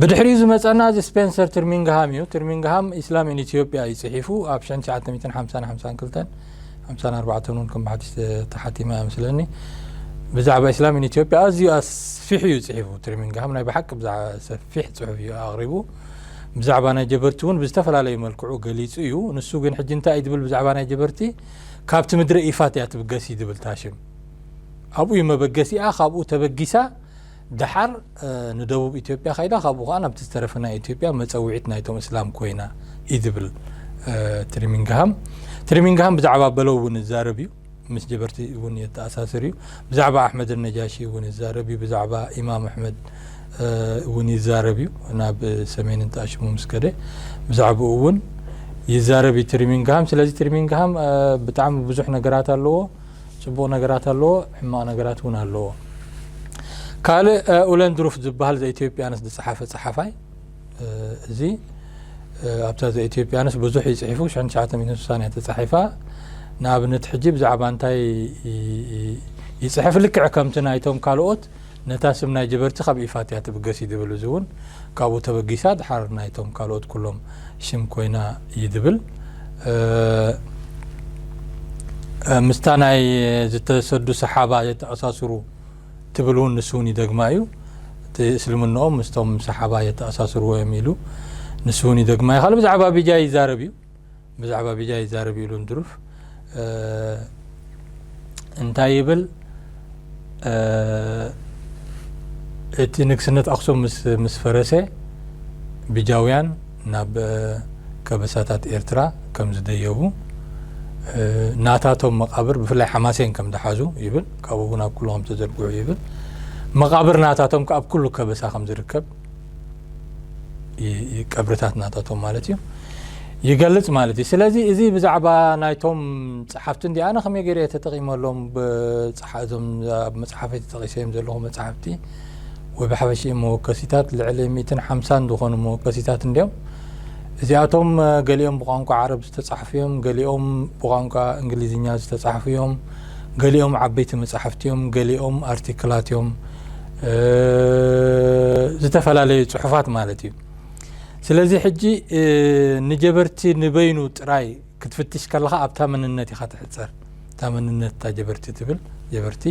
[SPEAKER 3] ብድሕሪኡ ዝመጸና እዚ ስፔንሰር ትርሚንግሃም እዩ። ትርሚንግሃም ኢስላም ኢን ኢትዮጵያ እዩ ጽሒፉ ኣብ 1950 52 54 እውን ከም ብሓድሽ ተሓቲማ እያ ምስለኒ ብዛዕባ ኢስላም ኢን ኢትዮጵያ ኣዝዩ ኣስፊሑ እዩ ጽሒፉ ትርሚንግሃም ናይ ብሓቂ ብዛዕባ ሰፊሕ ጽሑፍ እዩ ኣቕሪቡ ብዛዕባ ናይ ጀበርቲ እውን ብዝተፈላለዩ መልክዑ ገሊጹ እዩ ንሱ ግን ሕጂ እንታይ እዩ ዝብል ብዛዕባ ናይ ጀበርቲ ካብቲ ምድረ ኢፋት እያ ትብገስ እዩ ዝብል እታ ሽም ኣብኡ እዩ መበገሲኣ ካብኡ ተበጊሳ ደሓር ንደቡብ ኢትዮጵያ ከይዳ ካብኡ ከዓ ናብቲ ዝተረፈ ናይ ኢትዮጵያ መፀውዒት ናይቶም እስላም ኮይና እዩ ዝብል ትሪሚንግሃም ትሪሚንግሃም ብዛዕባ በለው እውን ይዛረብ እዩ ምስ ጀበርቲ እውን የተኣሳስር እዩ ብዛዕባ ኣሕመድ ነጃሺ እውን ይዛረብ እዩ ብዛዕባ ኢማም ኣሕመድ እውን ይዛረብ እዩ ናብ ሰሜንን ጣሽሙ ምስ ከደ ብዛዕባኡ እውን ይዛረብ እዩ ትሪሚንግሃም ስለዚ ትሪሚንግሃም ብጣዕሚ ብዙሕ ነገራት ኣለዎ ፅቡቕ ነገራት ኣለዎ ሕማቕ ነገራት እውን ኣለዎ ካልእ ኡለንድሩፍ ዝበሃል ዘኢትዮጵያንስ ዝፀሓፈ ፀሓፋይ እዚ ኣብታ ዘኢትዮጵያንስ ብዙሕ እዩ ጽሒፉ ሽሕን ትሽዓተ ሚእትን ስሳን እያ ተጻሒፋ ንኣብነት ሕጂ ብዛዕባ እንታይ ይጽሕፍ ልክዕ ከምቲ ናይቶም ካልኦት ነታ ስም ናይ ጀበርቲ ካብ ኢፋት እያ ትብገስ እዩ ድብል እዚ እውን ካብኡ ተበጊሳ ድሓር ናይቶም ካልኦት ኩሎም ሽም ኮይና እዩ ድብል ምስታ ናይ ዝተሰዱ ሰሓባ የተኣሳስሩ ትብል እውን ንሱ እውን ይደግማ እዩ። እቲ እስልምንኦም ምስቶም ሰሓባ የተኣሳስርዎ እዮም ኢሉ ንሱ እውን ይደግማ እዩ። ካልእ ብዛዕባ ቢጃይ ይዛረብ እዩ ብዛዕባ ቢጃይ ይዛረብ እዩ ኢሉ እንትርፍ እንታይ ይብል እቲ ንግስነት ኣክሱም ምስ ፈረሰ ቢጃውያን ናብ ከበሳታት ኤርትራ ከም ዝደየቡ፣ ናታቶም መቓብር ብፍላይ ሓማሴን ከም ዝሓዙ ይብል፣ ካብኡ እውን ኣብ ኩሉ ከም ዝተዘርግሑ ይብል፣ መቓብር ናታቶም ከኣ ኣብ ኩሉ ከበሳ ከም ዝርከብ፣ ቀብርታት ናታቶም ማለት እዩ፣ ይገልጽ ማለት እዩ። ስለዚ እዚ ብዛዕባ ናይቶም ጸሓፍቲ እንዲ ኣነ ከመይ ገይረ እየ ተጠቒመሎም፣ እዞም ኣብ መጽሓፈይ ተጠቒሰዮም ዘለኹ መጻሕፍቲ ወይ ብሓፈሽኡ መወከሲታት ልዕሊ ሚትን ሓምሳን ዝኾኑ መወከሲታት እንዲዮም እዚኣቶም ገሊኦም ብቋንቋ ዓረብ ዝተጻሕፉ እዮም ገሊኦም ብቋንቋ እንግሊዝኛ ዝተጻሕፉ እዮም ገሊኦም ዓበይቲ መጻሕፍቲ እዮም ገሊኦም ኣርቲክላት እዮም ዝተፈላለዩ ፅሑፋት ማለት እዩ ስለዚ ሕጂ ንጀበርቲ ንበይኑ ጥራይ ክትፍትሽ ከለኻ ኣብታ መንነት ኢኻ ትሕጸር እታ መንነት እታ ጀበርቲ ትብል ጀበርቲ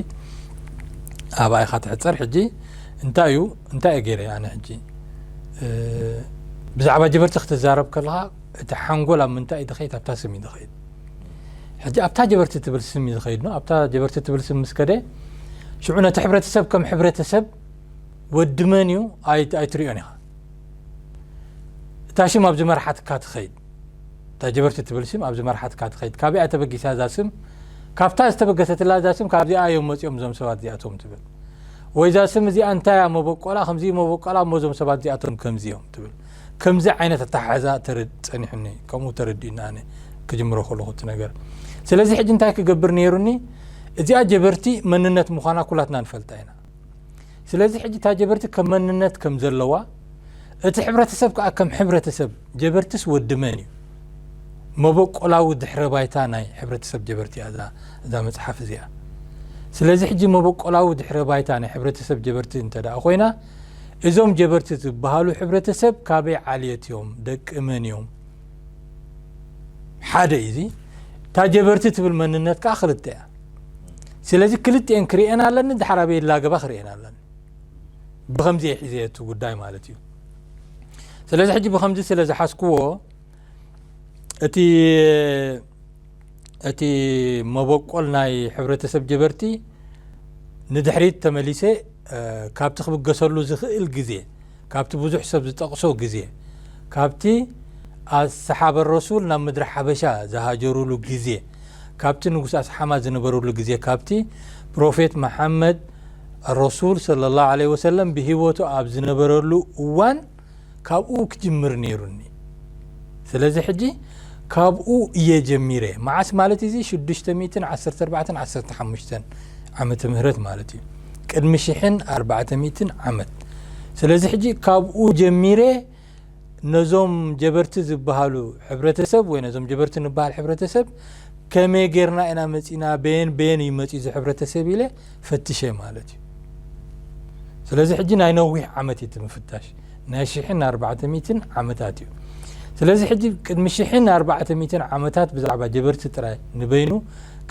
[SPEAKER 3] ኣብኣ ኢኻ ትሕጸር ሕጂ እንታይ እዩ እንታይ እዩ ገይረ ኣነ ሕጂ ብዛዕባ ጀበርቲ ክትዛረብ ከለኻ እቲ ሓንጎል ኣብ ምንታይ እዩ ዝኸይድ ኣብታ ስም እዩ ዝኸይድ ሕጂ ኣብታ ጀበርቲ ትብል ስም እዩ ዝኸይድ ኖ ኣብታ ጀበርቲ ትብል ስም ምስ ከደ ሽዑ ነቲ ሕብረተሰብ ከም ሕብረተሰብ ወዲ መን እዩ ኣይትሪኦን ኢኻ እታ ሽም ኣብ ዝመርሓትካ ትኸይድ እታ ጀበርቲ ትብል ስም ኣብዚ መርሓትካ ትኸይድ ካበይ እያ ተበጊሳ እዛ ስም ካብታ ዝተበገሰትላ እዛ ስም ካብዚኣ እዮም መጺኦም እዞም ሰባት እዚኣቶም ትብል ወይ እዛ ስም እዚኣ እንታይ እያ መበቆላ ከምዚ መበቆላ እሞ እዞም ሰባት እዚኣቶም ከምዚ እዮም ትብል ከምዚ ዓይነት ኣተሓሕዛ ጸኒሑኒ ከምኡ ተረዲኡኒ ኣነ ክጅምሮ ከለኹ እቲ ነገር ስለዚ ሕጂ እንታይ ክገብር ነይሩኒ እዚኣ ጀበርቲ መንነት ምዃና ኩላትና ንፈልጣ ኢና ስለዚ ሕጂ እታ ጀበርቲ ከም መንነት ከም ዘለዋ እቲ ሕብረተሰብ ከኣ ከም ሕብረተሰብ ጀበርትስ ወዲ መን እዩ መበቆላዊ ድሕረ ባይታ ናይ ሕብረተሰብ ጀበርቲ እያ እዛ እዛ መጽሓፍ እዚኣ ስለዚ ሕጂ መበቆላዊ ድሕረ ባይታ ናይ ሕብረተሰብ ጀበርቲ እንተ ደኣ ኮይና እዞም ጀበርቲ ዝበሃሉ ሕብረተሰብ ካበይ ዓልየት እዮም ደቂ መን እዮም ሓደ እዩ እዚ እታ ጀበርቲ ትብል መንነት ከኣ ክልተ እያ ስለዚ ክልቲኤን ክርኤን ኣለኒ ድሓር ኣበይ ላገባ ክርኤን ኣለኒ ብከምዚ እየ ሒዘ እቲ ጉዳይ ማለት እዩ ስለዚ ሕጂ ብከምዚ ስለ ዝሓዝክዎ እቲ እቲ መበቆል ናይ ሕብረተሰብ ጀበርቲ ንድሕሪት ተመሊሰ ካብቲ ክብገሰሉ ዝኽእል ግዜ ካብቲ ብዙሕ ሰብ ዝጠቕሶ ግዜ፣ ካብቲ ኣስሓበ ረሱል ናብ ምድሪ ሓበሻ ዝሃጀሩሉ ግዜ፣ ካብቲ ንጉስ ኣስሓማ ዝነበሩሉ ግዜ፣ ካብቲ ፕሮፌት መሓመድ ኣረሱል ሰለላሁ ዓለይሂ ወሰለም ብሂወቱ ኣብ ዝነበረሉ እዋን ካብኡ ክጅምር ነይሩኒ። ስለዚ ሕጂ ካብኡ እየ ጀሚረ። መዓስ ማለት እዚ ሽዱሽተ ሚእትን ዓሰርተ ኣርባዕተን ዓሰርተ ሓሙሽተን ዓመተ ምህረት ማለት እዩ። ቅድሚ ሽሕን ኣርባዕተ ሚእትን ዓመት ስለዚ ሕጂ ካብኡ ጀሚረ ነዞም ጀበርቲ ዝብሃሉ ሕብረተሰብ ወይ ነዞም ጀበርቲ ንብሃል ሕብረተሰብ ከመይ ጌርና ኢና መጺና በየን በየን እዩ መጺኡ ዝሕብረተሰብ ኢለ ፈትሸ ማለት እዩ ስለዚ ሕጂ ናይ ነዊሕ ዓመት እዩ እቲ ምፍታሽ ናይ ሽሕን ኣርባዕተ ሚትን ዓመታት እዩ ስለዚ ሕጂ ቅድሚ ሽሕን ኣርባዕተ ሚትን ዓመታት ብዛዕባ ጀበርቲ ጥራይ ንበይኑ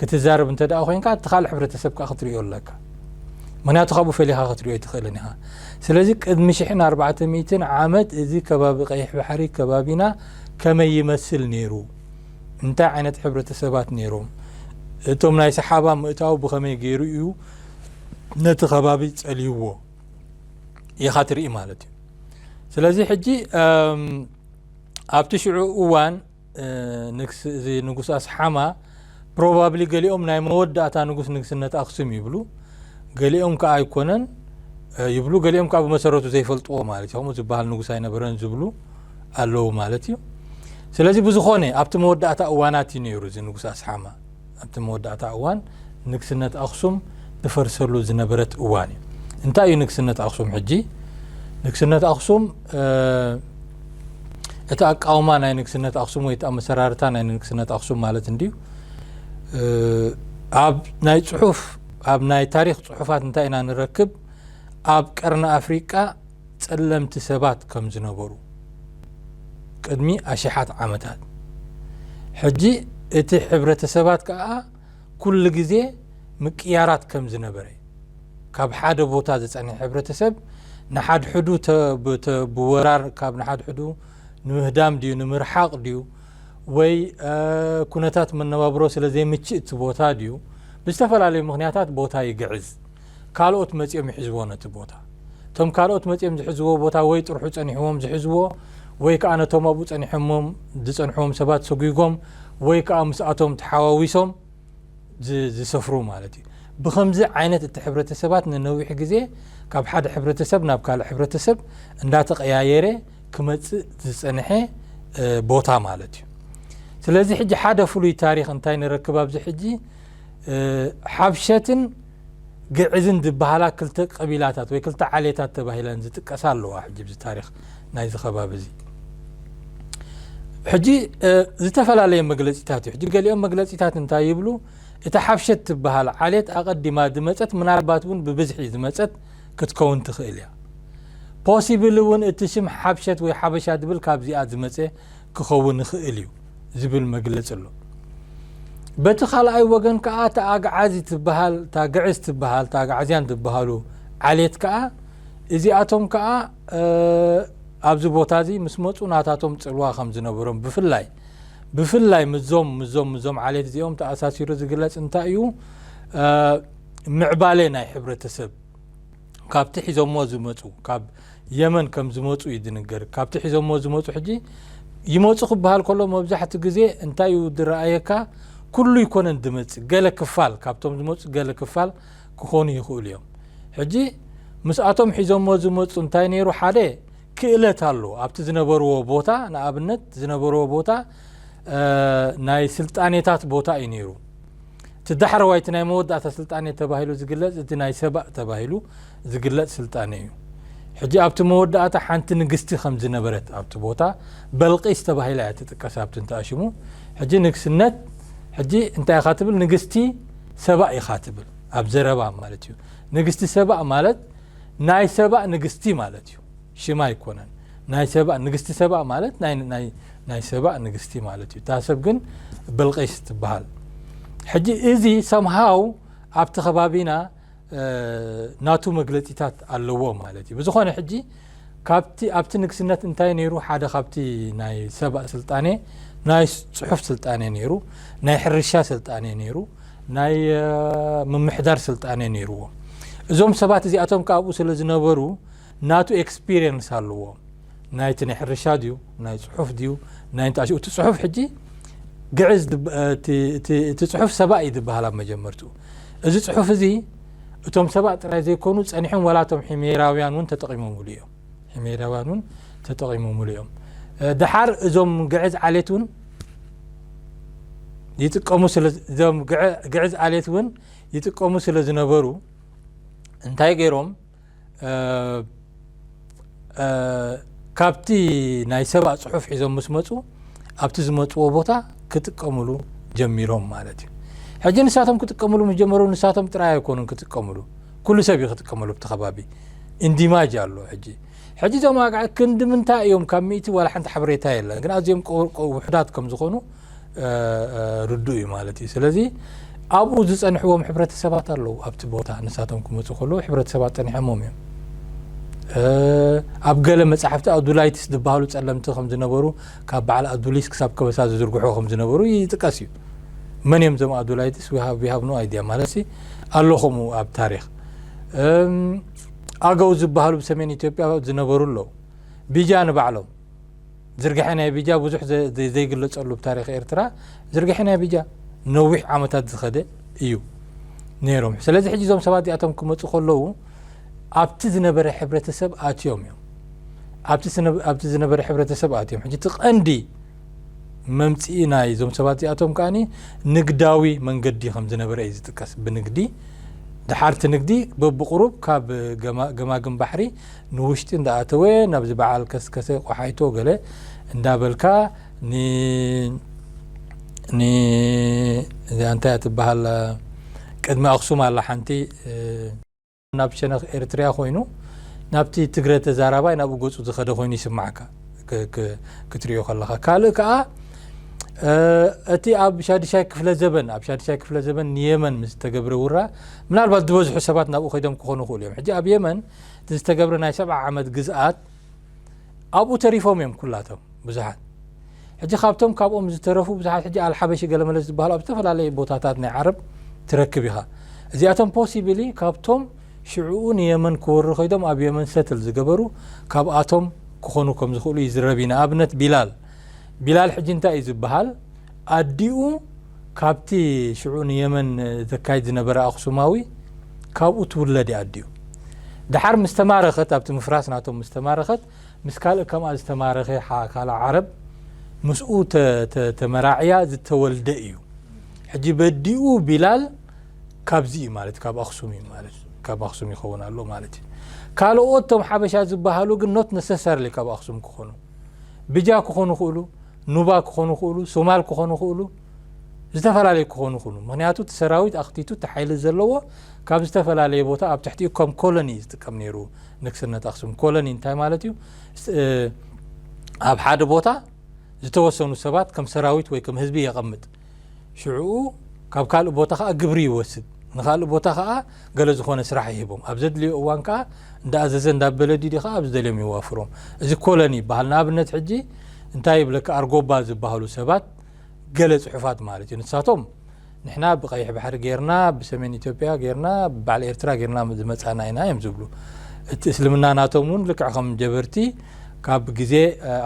[SPEAKER 3] ክትዛረብ እንተ ደኣ ኮንካ እቲ ካልእ ሕብረተሰብ ከኣ ክትሪኦ ኣለካ ምክንያቱ ካብኡ ፈሊኻ ክትሪኦ ኣይትኽእልን ኢኻ ስለዚ ቅድሚ ሽሕን ኣርባዕተ ሚትን ዓመት እዚ ከባቢ ቀይሕ ባሕሪ ከባቢና ከመይ ይመስል ነይሩ እንታይ ዓይነት ሕብረተሰባት ነይሮም እቶም ናይ ሰሓባ ምእታው ብኸመይ ገይሩ እዩ ነቲ ከባቢ ጸልይዎ ኢኻ ትርኢ ማለት እዩ ስለዚ ሕጂ ኣብቲ ሽዑ እዋን እዚ ንጉስ ኣስሓማ ፕሮባብሊ ገሊኦም ናይ መወዳእታ ንጉስ ንግስነት ኣክሱም ይብሉ ገሊኦም ከዓ ኣይኮነን ይብሉ ገሊኦም ከዓ ብመሰረቱ ዘይፈልጥዎ ማለት እዩ ከምኡ ዝበሃል ንጉስ ኣይነበረን ዝብሉ ኣለዉ ማለት እዩ ስለዚ ብዝኾነ ኣብቲ መወዳእታ እዋናት እዩ ነይሩ እዚ ንጉስ ኣስሓማ ኣብቲ መወዳእታ እዋን ንግስነት ኣኽሱም እፈርሰሉ ዝነበረት እዋን እዩ። እንታይ እዩ ንግስነት ኣኽሱም ሕጂ? ንግስነት ኣኽሱም እቲ ኣቃውማ ናይ ንግስነት ኣኽሱም ወይ እቲ ኣመሰራርታ ናይ ንግስነት ኣኽሱም ማለት እንድዩ ኣብ ናይ ፅሑፍ ኣብ ናይ ታሪክ ፅሑፋት እንታይ ኢና ንረክብ ኣብ ቀርኒ ኣፍሪቃ ጸለምቲ ሰባት ከም ዝነበሩ ቅድሚ ኣሽሓት ዓመታት ሕጂ እቲ ሕብረተሰባት ከኣ ኩሉ ግዜ ምቅያራት ከም ዝነበረ ካብ ሓደ ቦታ ዝጸንሐ ሕብረተሰብ ንሓድሕዱ ብወራር ካብ ንሓድሕዱ ንምህዳም ድዩ ንምርሓቕ ድዩ ወይ ኩነታት መነባብሮ ስለ ዘይምችእ እቲ ቦታ ድዩ ብዝተፈላለዩ ምኽንያታት ቦታ ይግዕዝ። ካልኦት መጺኦም ይሕዝዎ ነቲ ቦታ። እቶም ካልኦት መጺኦም ዝሕዝዎ ቦታ ወይ ጥርሑ ጸኒሕዎም ዝሕዝዎ ወይ ከኣ ነቶም ኣብኡ ጸኒሖምም ዝጸንሕዎም ሰባት ሰጒጎም ወይ ከኣ ምስኣቶም ተሓዋዊሶም ዝሰፍሩ ማለት እዩ። ብኸምዚ ዓይነት እቲ ሕብረተሰባት ንነዊሕ ግዜ ካብ ሓደ ሕብረተሰብ ናብ ካልእ ሕብረተሰብ እንዳተቐያየረ ክመጽእ ዝጸንሐ ቦታ ማለት እዩ። ስለዚ ሕጂ ሓደ ፍሉይ ታሪኽ እንታይ ንረክብ ኣብዚ ሕጂ ሓብሸትን ግዕዝን ዝበሃላ ክልተ ቀቢላታት ወይ ክልተ ዓሌታት ተባሂለን ዝጥቀሳ ኣለዋ ሕጂ ብዚ ታሪክ ናይዚ ከባቢ እዚ ሕጂ ዝተፈላለየ መግለፂታት እዩ ሕጂ ገሊኦም መግለፂታት እንታይ ይብሉ እቲ ሓብሸት ትበሃል ዓሌት ኣቐዲማ ዝመፀት ምናልባት እውን ብብዝሒ ዝመፀት ክትከውን ትኽእል እያ ፖሲብል እውን እቲ ሽም ሓብሸት ወይ ሓበሻ ዝብል ካብዚኣ ዝመፀ ክኸውን ይኽእል እዩ ዝብል መግለጺ ኣሎ። በቲ ካልኣይ ወገን ከኣ እታ ኣግዓዚ ትበሃል እታ ግዕዝ ትበሃል እታ ኣግዓዝያን ዝበሃሉ ዓሌት ከኣ እዚኣቶም ከኣ ኣብዚ ቦታ እዚ ምስ መጹ ናታቶም ጽልዋ ከም ዝነበሮም ብፍላይ ብፍላይ ምዞም ምዞም ምዞም ዓሌት እዚኦም ተኣሳሲሩ ዝግለጽ እንታይ እዩ ምዕባሌ ናይ ሕብረተሰብ ካብቲ ሒዞሞ ዝመፁ ካብ የመን ከም ዝመፁ እዩ ዝንገር ካብቲ ሒዞሞ ዝመፁ ሕጂ ይመፁ ክበሃል ከሎ መብዛሕቲ ግዜ እንታይ እዩ ዝረኣየካ ኩሉ ይኮነን ዝመፅእ ገለ ክፋል ካብቶም ዝመፁ ገለ ክፋል ክኾኑ ይኽእሉ እዮም ሕጂ ምስኣቶም ሒዞሞ ዝመፁ እንታይ ነይሩ ሓደ ክእለት ኣሎ ኣብቲ ዝነበርዎ ቦታ ንኣብነት ዝነበርዎ ቦታ ናይ ስልጣኔታት ቦታ እዩ ነይሩ እቲ ዳሕረዋይ እቲ ናይ መወዳእታ ስልጣኔ ተባሂሉ ዝግለጽ እቲ ናይ ሰባእ ተባሂሉ ዝግለጽ ስልጣኔ እዩ። ሕጂ ኣብቲ መወዳእታ ሓንቲ ንግስቲ ከም ዝነበረት ኣብቲ ቦታ በልቂስ ተባሂላ እያ ትጥቀስ ኣብቲ እንተኣሽሙ ሕጂ ንግስነት ሕጂ እንታይ ኢኻ ትብል ንግስቲ ሰባእ ኢኻ ትብል ኣብ ዘረባ ማለት እዩ ንግስቲ ሰባእ ማለት ናይ ሰባእ ንግስቲ ማለት እዩ። ሽም ኣይኮነን ናይ ሰባ ንግስቲ ሰባ ማለት ናይ ናይ ናይ ሰባ ንግስቲ ማለት እዩ እታ ሰብ ግን ብልቂስ ትበሃል ሕጂ እዚ ሰምሃው ኣብቲ ከባቢና ናቱ መግለጺታት ኣለዎ ማለት እዩ ብዝኾነ ሕጂ ካብቲ ኣብቲ ንግስነት እንታይ ነይሩ ሓደ ካብቲ ናይ ሰባ ስልጣኔ ናይ ጽሑፍ ስልጣኔ ነይሩ ናይ ሕርሻ ስልጣኔ ነይሩ ናይ ምምሕዳር ስልጣኔ ነይርዎ እዞም ሰባት እዚኣቶም ካብኡ ስለ ዝነበሩ ናቱ ኤክስፒርየንስ ኣለዎ ናይቲ ናይ ሕርሻ ድዩ ናይ ጽሑፍ ድዩ ናይ እንታይ እቲ ጽሑፍ ሕጂ ግዕዝ እቲ ጽሑፍ ሰባእ እዩ ዝበሃል ኣብ መጀመርትኡ እዚ ጽሑፍ እዚ እቶም ሰባእ ጥራይ ዘይኮኑ ጸኒሖም ዋላ እቶም ሒሜራውያን እውን ተጠቒሞምሉ እዮም ሒሜራውያን እውን ተጠቒሞምሉ እዮም ድሓር እዞም ግዕዝ ዓሌት እውን ይጥቀሙ እዞም ግዕዝ ዓሌት እውን ይጥቀሙ ስለ ዝነበሩ እንታይ ገይሮም ካብቲ ናይ ሰብኣ ፅሑፍ ሒዞም ምስ መፁ ኣብቲ ዝመፅዎ ቦታ ክጥቀምሉ ጀሚሮም ማለት እዩ ሕጂ ንሳቶም ክጥቀምሉ ምስ ጀመሩ ንሳቶም ጥራይ ኣይኮኑን ክጥቀምሉ ኩሉ ሰብ እዩ ክጥቀመሉ ብቲ ከባቢ እንዲማጅ ኣሎ ሕጂ ሕጂ እዞም ኣግዓ ክንዲ ምንታይ እዮም ካብ ሚእቲ ዋላ ሓንቲ ሓበሬታ የለን ግን ኣዝዮም ውሑዳት ከም ዝኾኑ ርዱእ እዩ ማለት እዩ ስለዚ ኣብኡ ዝፀንሕዎም ሕብረተሰባት ኣለዉ ኣብቲ ቦታ ንሳቶም ክመፁ ከለዉ ሕብረተሰባት ፀኒሖሞም እዮም ኣብ ገለ መፅሓፍቲ ኣዱላይትስ ዝበሃሉ ፀለምቲ ከም ዝነበሩ ካብ በዓል ኣዱሊስ ክሳብ ከበሳ ዝዝርግሑ ከም ዝነበሩ ይጥቀስ እዩ መን እዮም እዞም ኣዱላይትስ ሃብ ኖ ኣይድያ ማለት ኣሎ ከምኡ ኣብ ታሪክ ኣገው ዝበሃሉ ብሰሜን ኢትዮጵያ ዝነበሩ ኣለዉ ቢጃ ንባዕሎም ዝርግሐ ናይ ቢጃ ብዙሕ ዘይግለጸሉ ብታሪኽ ኤርትራ ዝርግሐ ናይ ቢጃ ነዊሕ ዓመታት ዝኸደ እዩ ነይሮም ስለዚ ሕጂ እዞም ሰባት እዚኣቶም ክመጹ ከለዉ ኣብቲ ዝነበረ ሕብረተሰብ ኣትዮም እዮም ኣብቲ ዝነበረ ሕብረተሰብ ኣትዮም ሕጂ እቲ ቀንዲ መምፅኢ ናይ እዞም ሰባት እዚኣቶም ከዓ ንግዳዊ መንገዲ ከም ዝነበረ እዩ ዝጥቀስ ብንግዲ ድሓርቲ ንግዲ በብቁሩብ ካብ ገማግም ባሕሪ ንውሽጢ እንዳኣተወ ናብዚ በዓል ከስከሰ ቆሓይቶ ገለ እንዳበልካ ን ን እዚኣ እንታይ እያ ትበሃል ቅድሚ ኣክሱም ኣላ ሓንቲ ናብ ሸነኽ ኤርትርያ ኮይኑ ናብቲ ትግረ ተዛራባይ ናብኡ ገጹ ዝኸደ ኮይኑ ይስማዓካ ክትሪኦ ከለኻ ካልእ ከኣ እቲ ኣብ ሻድሻይ ክፍለ ዘበን ኣብ ሻድሻይ ክፍለ ዘበን ንየመን ምስ ተገብረ ውራ ምናልባት ዝበዝሑ ሰባት ናብኡ ከይዶም ክኾኑ ይኽእሉ እዮም ሕጂ ኣብ የመን እቲ ዝተገብረ ናይ ሰብዓ ዓመት ግዝኣት ኣብኡ ተሪፎም እዮም ኩላቶም ብዙሓት ሕጂ ካብቶም ካብኦም ዝተረፉ ብዙሓት ሕጂ ኣልሓበሺ ገለመለ ዝበሃሉ ኣብ ዝተፈላለዩ ቦታታት ናይ ዓረብ ትረክብ ኢኻ እዚኣቶም ፖሲብሊ ካብቶም ሽዕኡ ንየመን ክወሩ ከይዶም ኣብ የመን ሰትል ዝገበሩ ካብኣቶም ክኾኑ ከም ዝኽእሉ ይዝረብ እዩ ንኣብነት ቢላል ቢላል ሕጂ እንታይ እዩ ዝበሃል ኣዲኡ ካብቲ ሽዑ ንየመን ዘካይድ ዝነበረ ኣኽሱማዊ ካብኡ ትውለድ እያ ኣዲኡ። ደሓር ምስ ተማረኸት ኣብቲ ምፍራስ ናቶም ምስ ተማረኸት ምስ ካልእ ከምኣ ዝተማረኸ ካልኣ ዓረብ ምስኡ ተመራዕያ ዝተወልደ እዩ። ሕጂ በዲኡ ቢላል ካብዚ እዩ ማለት ካብ ኣኽሱም እዩ ማለት ካብ ኣኽሱም ይኸውን ኣሎ ማለት እዩ። ካልኦት ቶም ሓበሻ ዝበሃሉ ግን ኖት ነሰሰርሊ ካብ ኣኽሱም ክኾኑ ብጃ ክኾኑ ይኽእሉ፣ ኑባ ክኾኑ ይኽእሉ፣ ሶማል ክኾኑ ይኽእሉ፣ ዝተፈላለዩ ክኾኑ ይኽእሉ። ምኽንያቱ እቲ ሰራዊት ኣኽቲቱ እቲ ሓይሊ ዘለዎ ካብ ዝተፈላለየ ቦታ ኣብ ትሕቲኡ ከም ኮሎኒ እዩ ዝጥቀም ነይሩ ንግስነት ኣኽሱም። ኮሎኒ እንታይ ማለት እዩ? ኣብ ሓደ ቦታ ዝተወሰኑ ሰባት ከም ሰራዊት ወይ ከም ህዝቢ የቐምጥ። ሽዑኡ ካብ ካልእ ቦታ ከኣ ግብሪ ይወስድ፣ ንኻልእ ቦታ ከኣ ገለ ዝኾነ ስራሕ ይህቦም። ኣብ ዘድልዮ እዋን ከኣ እንዳኣዘዘ እንዳበለ ዲዲ ከኣ ኣብ ዝደልዮም የዋፍሮም። እዚ ኮለኒ ይበሃል። ንኣብነት ሕጂ እንታይ ይብለካ ኣርጎባ ዝበሃሉ ሰባት ገለ ጽሑፋት ማለት እዩ ንሳቶም ንሕና ብቀይሕ ባሕሪ ጌርና ብሰሜን ኢትዮጵያ ጌርና ብበዓል ኤርትራ ጌርና ዝመጻና ኢና እዮም ዝብሉ እቲ እስልምና ናቶም እውን ልክዕ ከም ጀበርቲ ካብ ግዜ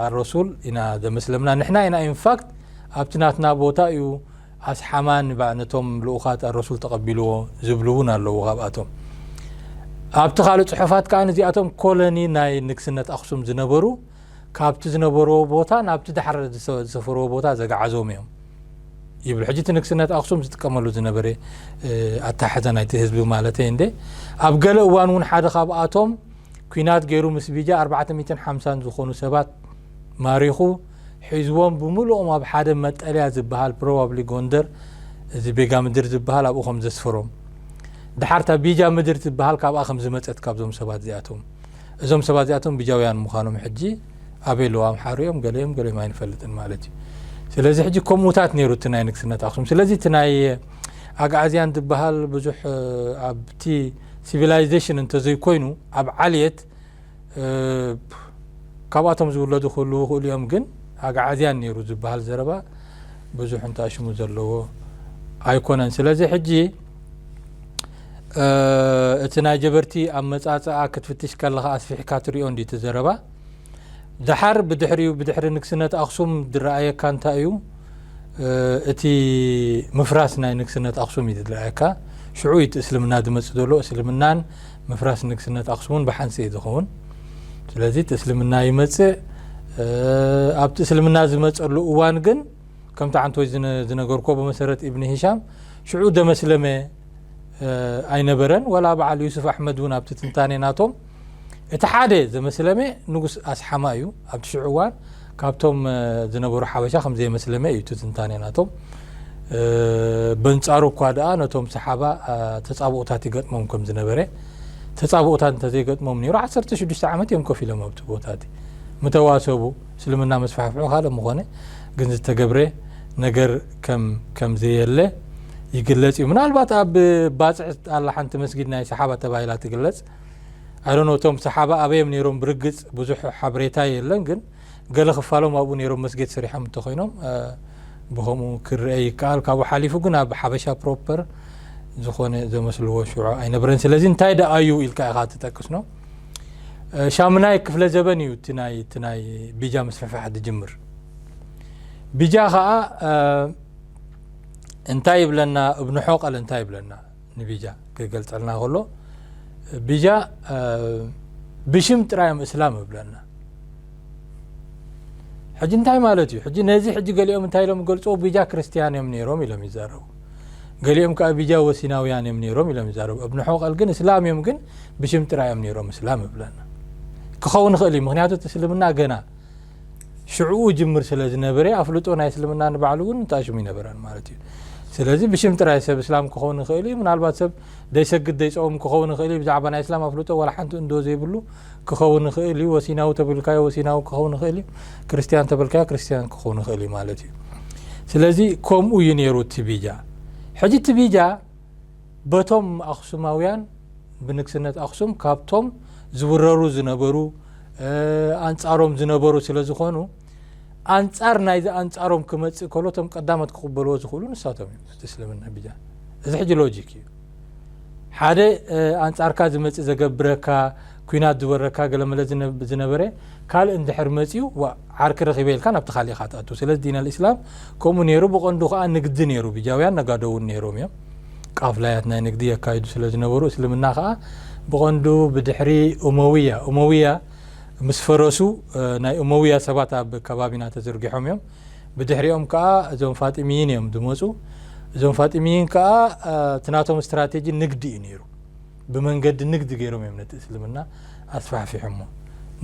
[SPEAKER 3] ኣረሱል ኢና ዘመስለምና ንሕና ኢና ኢንፋክት ኣብቲ ናትና ቦታ እዩ ኣስሓማን እባ ነቶም ልኡኻት ኣረሱል ተቐቢልዎ ዝብሉ እውን ኣለዉ ካብኣቶም ኣብቲ ካልእ ጽሑፋት ከዓ እዚኣቶም ኮሎኒ ናይ ንግስነት ኣክሱም ዝነበሩ ካብቲ ዝነበርዎ ቦታ ናብቲ ዳሕረ ዝሰፈርዎ ቦታ ዘግዓዞም እዮም ይብል ሕጂ እቲ ንግስነት ኣክሱም ዝጥቀመሉ ዝነበረ ኣተሓሕዛ ናይቲ ህዝቢ ማለት እንደ ኣብ ገለ እዋን እውን ሓደ ካብኣቶም ኩናት ገይሩ ምስ ቢጃ 450 ዝኾኑ ሰባት ማሪኹ ሒዝዎም ብምሉኦም ኣብ ሓደ መጠልያ ዝበሃል ፕሮባብሊ ጎንደር እዚ ቤጋ ምድር ዝበሃል ኣብኡ ከም ዘስፈሮም ደሓር እታ ቢጃ ምድር ትበሃል ካብኣ ከም ዝመጸት ካብዞም ሰባት እዚኣቶም እዞም ሰባት እዚኣቶም ቢጃውያን ምዃኖም ሕጂ ኣበይ ኣለዉ ኣምሓሩ እዮም ገለ እዮም ገለ እዮም ኣይንፈልጥን ማለት እዩ ስለዚ ሕጂ ከምኡታት ነይሩ እቲ ናይ ንግስነት ኣክሱም ስለዚ እቲ ናይ ኣግዓዝያን ዝበሃል ብዙሕ ኣብቲ ሲቪላይዜሽን እንተዘይኮይኑ ኣብ ዓልየት እብ ካብኣቶም ዝውለዱ ክህልዉ ይኽእሉ እዮም ግን ኣግዓዝያን ነይሩ ዝበሃል ዘረባ ብዙሕ እንተ ኣሽሙ ዘለዎ ኣይኮነን ስለዚ ሕጂ እቲ ናይ ጀበርቲ ኣመጻጽኣ ክትፍትሽ ከለኻ ኣስፊሕካ ትሪኦ እንዲ እቲ ዘረባ ድሓር ብድሕሪኡ ብድሕሪ ንግስነት ኣክሱም ዝረኣየካ እንታይ እዩ እቲ ምፍራስ ናይ ንግስነት ኣክሱም እዩ ዝረኣየካ ሽዑ እቲ እስልምና ዝመጽእ ዘሎ እስልምናን ምፍራስ ንግስነት ኣክሱም እውን ብሓንስ እዩ ዝኸውን ስለዚ እቲ እስልምና ይመፅእ ኣብቲ እስልምና ዝመፀሉ እዋን ግን ከምቲ ዓንቶይ ዝነገርኮ ብመሰረት ኢብኒ ሂሻም ሽዑ ደመስለመ ኣይነበረን ወላ በዓል ዩሱፍ ኣሕመድ እውን ኣብቲ ትንታኔ ናቶም እቲ ሓደ ዘመስለመ ንጉስ ኣስሓማ እዩ ኣብቲ ሽዑ እዋን ካብቶም ዝነበሩ ሓበሻ ከም ዘይመስለመ እዩ እቲ ትንታኔ ናቶም። በንጻሩ እኳ ደኣ ነቶም ሰሓባ ተጻብኦታት ይገጥሞም ከም ዝነበረ ተጻብኦታት እንተዘይገጥሞም ነይሩ ዓሰርተ ሽዱሽተ ዓመት እዮም ኮፍ ኢሎም ኣብቲ ቦታ እቲ ምተዋሰቡ እስልምና መስፋሕፍሑ ካልእ ምኾነ ግን ዝተገብረ ነገር ከም ከም ዘየለ ይግለጽ እዩ ምናልባት ኣብ ባጽዕ ኣላ ሓንቲ መስጊድ ናይ ሰሓባ ተባሂላ ትግለጽ I don't know እቶም ሰሓባ ኣበይዮም ነይሮም ብርግጽ ብዙሕ ሓበሬታ የለን ግን ገለ ክፋሎም ኣብኡ ነይሮም መስጊድ ሰሪሖም እንተኾይኖም ብከምኡ ክርአ ይከኣል ካብኡ ሓሊፉ ግን ኣብ ሓበሻ ፕሮፐር ዝኾነ ዘመስልዎ ሽዑ ኣይነበረን ስለዚ እንታይ ደኣ እዩ ኢልካ ኢኻ ትጠቅስ ነው ሻምናይ ክፍለ ዘበን እዩ እቲ ናይ እቲ ናይ ቢጃ ምስፍሕፋሕ ዝጅምር ቢጃ ከዓ እንታይ ይብለና እብንሖ ቃል እንታይ ይብለና ንቢጃ ክገልጸልና ከሎ ቢጃ ብሽም ጥራይ እዮም እስላም እብለና ሕጂ እንታይ ማለት እዩ ሕጂ ነዚ ሕጂ ገሊኦም እንታይ ኢሎም ገልፅዎ ቢጃ ክርስትያን እዮም ነይሮም ኢሎም ይዛረቡ ገሊኦም ከዓ ቢጃ ወሲናውያን እዮም ነይሮም ኢሎም ይዛረቡ እብን ሖቀል ግን እስላም እዮም ግን ብሽም ጥራይ እዮም ነይሮም እስላም እብለና ክኸውን ይኽእል እዩ ምክንያቱ እቲ እስልምና ገና ሽዕኡ ይጅምር ስለ ዝነበረ ኣፍልጦ ናይ እስልምና ንባዕሉ እውን ንጣሽሙ ይነበረን ማለት እዩ ስለዚ ብሽም ጥራይ ሰብ እስላም ክኸውን ይኽእል እዩ ምናልባት ሰብ ደይሰግድ ደይፀውም ክኸውን ይኽእል እዩ ብዛዕባ ናይ እስላም ኣፍልጦ ዋላ ሓንቲ እንዶ ዘይብሉ ክኸውን ይኽእል እዩ ወሲናዊ ተብልካዮ ወሲናዊ ክኸውን ይኽእል እዩ ክርስትያን ተብልካዮ ክርስትያን ክኸውን ይኽእል እዩ ማለት እዩ ስለዚ ከምኡ እዩ ነይሩ እቲ ቢጃ ሕጂ እቲ ቢጃ በቶም ኣኽሱማውያን ብንግስነት ኣኽሱም ካብቶም ዝውረሩ ዝነበሩ ኣንጻሮም ዝነበሩ ስለ ዝኾኑ ኣንጻር ናይዚ ኣንጻሮም ክመጽእ ከሎ እቶም ቀዳሞት ክቕበልዎ ዝኽእሉ ንሳቶም እዮም እቲ እስልምና ብጃ እዚ ሕጂ ሎጂክ እዩ ሓደ ኣንጻርካ ዝመጽእ ዘገብረካ ኩናት ዝወረካ ገለመለ ዝነበረ ካልእ እንድሕር መጽዩ ዋእ ዓርኪ ረኺበ ኢልካ ናብቲ ካልእ ኢኻ ትኣቱ ስለዚ ዲን ኣልእስላም ከምኡ ኔሩ ብቐንዱ ከኣ ንግዲ ኔሩ ብጃውያን ነጋዶ ውን ኔሮም እዮም ቃፍላያት ናይ ንግዲ የካይዱ ስለ ዝነበሩ እስልምና ከኣ ብቐንዱ ብድሕሪ ኡመውያ ኡመውያ ምስ ፈረሱ ናይ ኡመውያ ሰባት ኣብ ከባቢና ተዝርጊሖም እዮም ብድሕሪኦም ከኣ እዞም ፋጢምይን እዮም ዝመጹ እዞም ፋጢምይን ከኣ ትናቶም ስትራቴጂ ንግዲ እዩ ኔሩ ብመንገዲ ንግዲ ገይሮም እዮም ነቲ እስልምና ኣስፋሕፊሖሞ።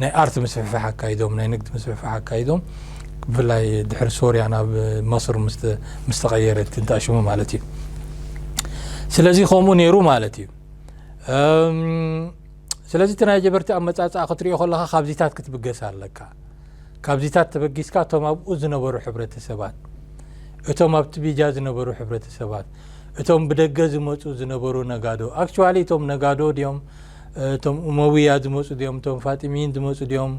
[SPEAKER 3] ናይ ኣርት ምስፍሕፋሕ ኣካይዶም፣ ናይ ንግዲ ምስፍሕፋሕ ኣካይዶም። ብፍላይ ድሕሪ ሶርያ ናብ መስር ምስ ተቐየረት እንተኣሽሙ ማለት እዩ። ስለዚ ከምኡ ነይሩ ማለት እዩ። ስለዚ እቲ ናይ ጀበርቲ ኣመፃፅኣ ክትሪኦ ከለካ ካብዚታት ክትብገስ ኣለካ ካብዚታት ተበጊስካ እቶም ኣብኡ ዝነበሩ ሕብረተሰባት እቶም ኣብቲ ቢጃ ዝነበሩ ሕብረተሰባት እቶም ብደገ ዝመጹ ዝነበሩ ነጋዶ actually እቶም ነጋዶ ድዮም እቶም ኡመውያ ዝመጹ ድዮም እቶም ፋጢሚይን ዝመጹ ድዮም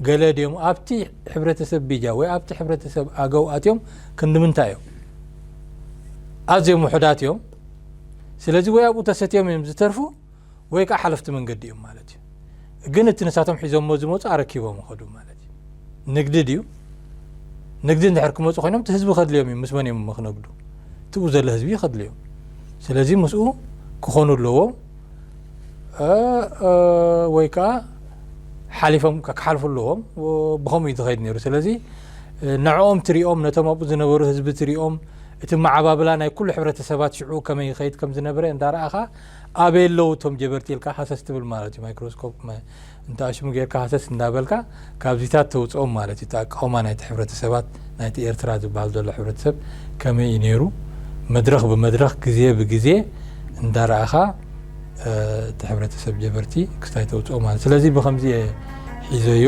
[SPEAKER 3] ገለ ድዮም ኣብቲ ሕብረተሰብ ቢጃ ወይ ኣብቲ ሕብረተሰብ ኣገው ኣትዮም ክንድምንታይ እዮም ኣዝዮም ውሑዳት እዮም ስለዚ ወይ ኣብኡ ተሰትዮም እዮም ዝተርፉ ወይ ከኣ ሓለፍቲ መንገዲ እዮም ማለት እዩ። ግን እቲ ንሳቶም ሒዞሞ ዝመጹ ኣረኪቦም ይኸዱ ማለት እዩ። ንግዲ ድዩ? ንግዲ እንድሕር ክመጹ ኮይኖም እቲ ህዝቢ ከድልዮም እዩ። ምስ መን እዮም እሞ ክነግዱ? እቲ ብኡ ዘሎ ህዝቢ እዩ ከድልዮም። ስለዚ ምስኡ ክኾኑ ኣለዎም ወይ ከኣ ሓሊፎም ክሓልፉ ኣለዎም። ብኸምኡ እዩ ዝኸይድ ነይሩ። ስለዚ ንዕኦም ትሪኦም ነቶም ኣብኡ ዝነበሩ ህዝቢ ትሪኦም እቲ መዓባብላ ናይ ኩሉ ሕብረተሰባት ሽዑ ከመይ ይኸይድ ከም ዝነበረ እንዳረኣኻ ኣበይ ኣለዉ እቶም ጀበርቲ ኢልካ ሃሰስ ትብል ማለት እዩ ማይክሮስኮፕ መ እንተ ኣሽሙ ጌርካ ሃሰስ እንዳበልካ ካብዚታት ተውጽኦም ማለት እዩ እቲ ኣቃውማ ናይቲ ሕብረተሰባት ናይቲ ኤርትራ ዝበሃል ዘሎ ሕብረተሰብ ከመይ እዩ ነይሩ መድረኽ ብመድረኽ ግዜ ብግዜ እንዳረኣኻ እቲ ሕብረተሰብ ጀበርቲ ክስታይ ተውጽኦ ማለት ስለዚ ብከምዚ እየ ሒዘዮ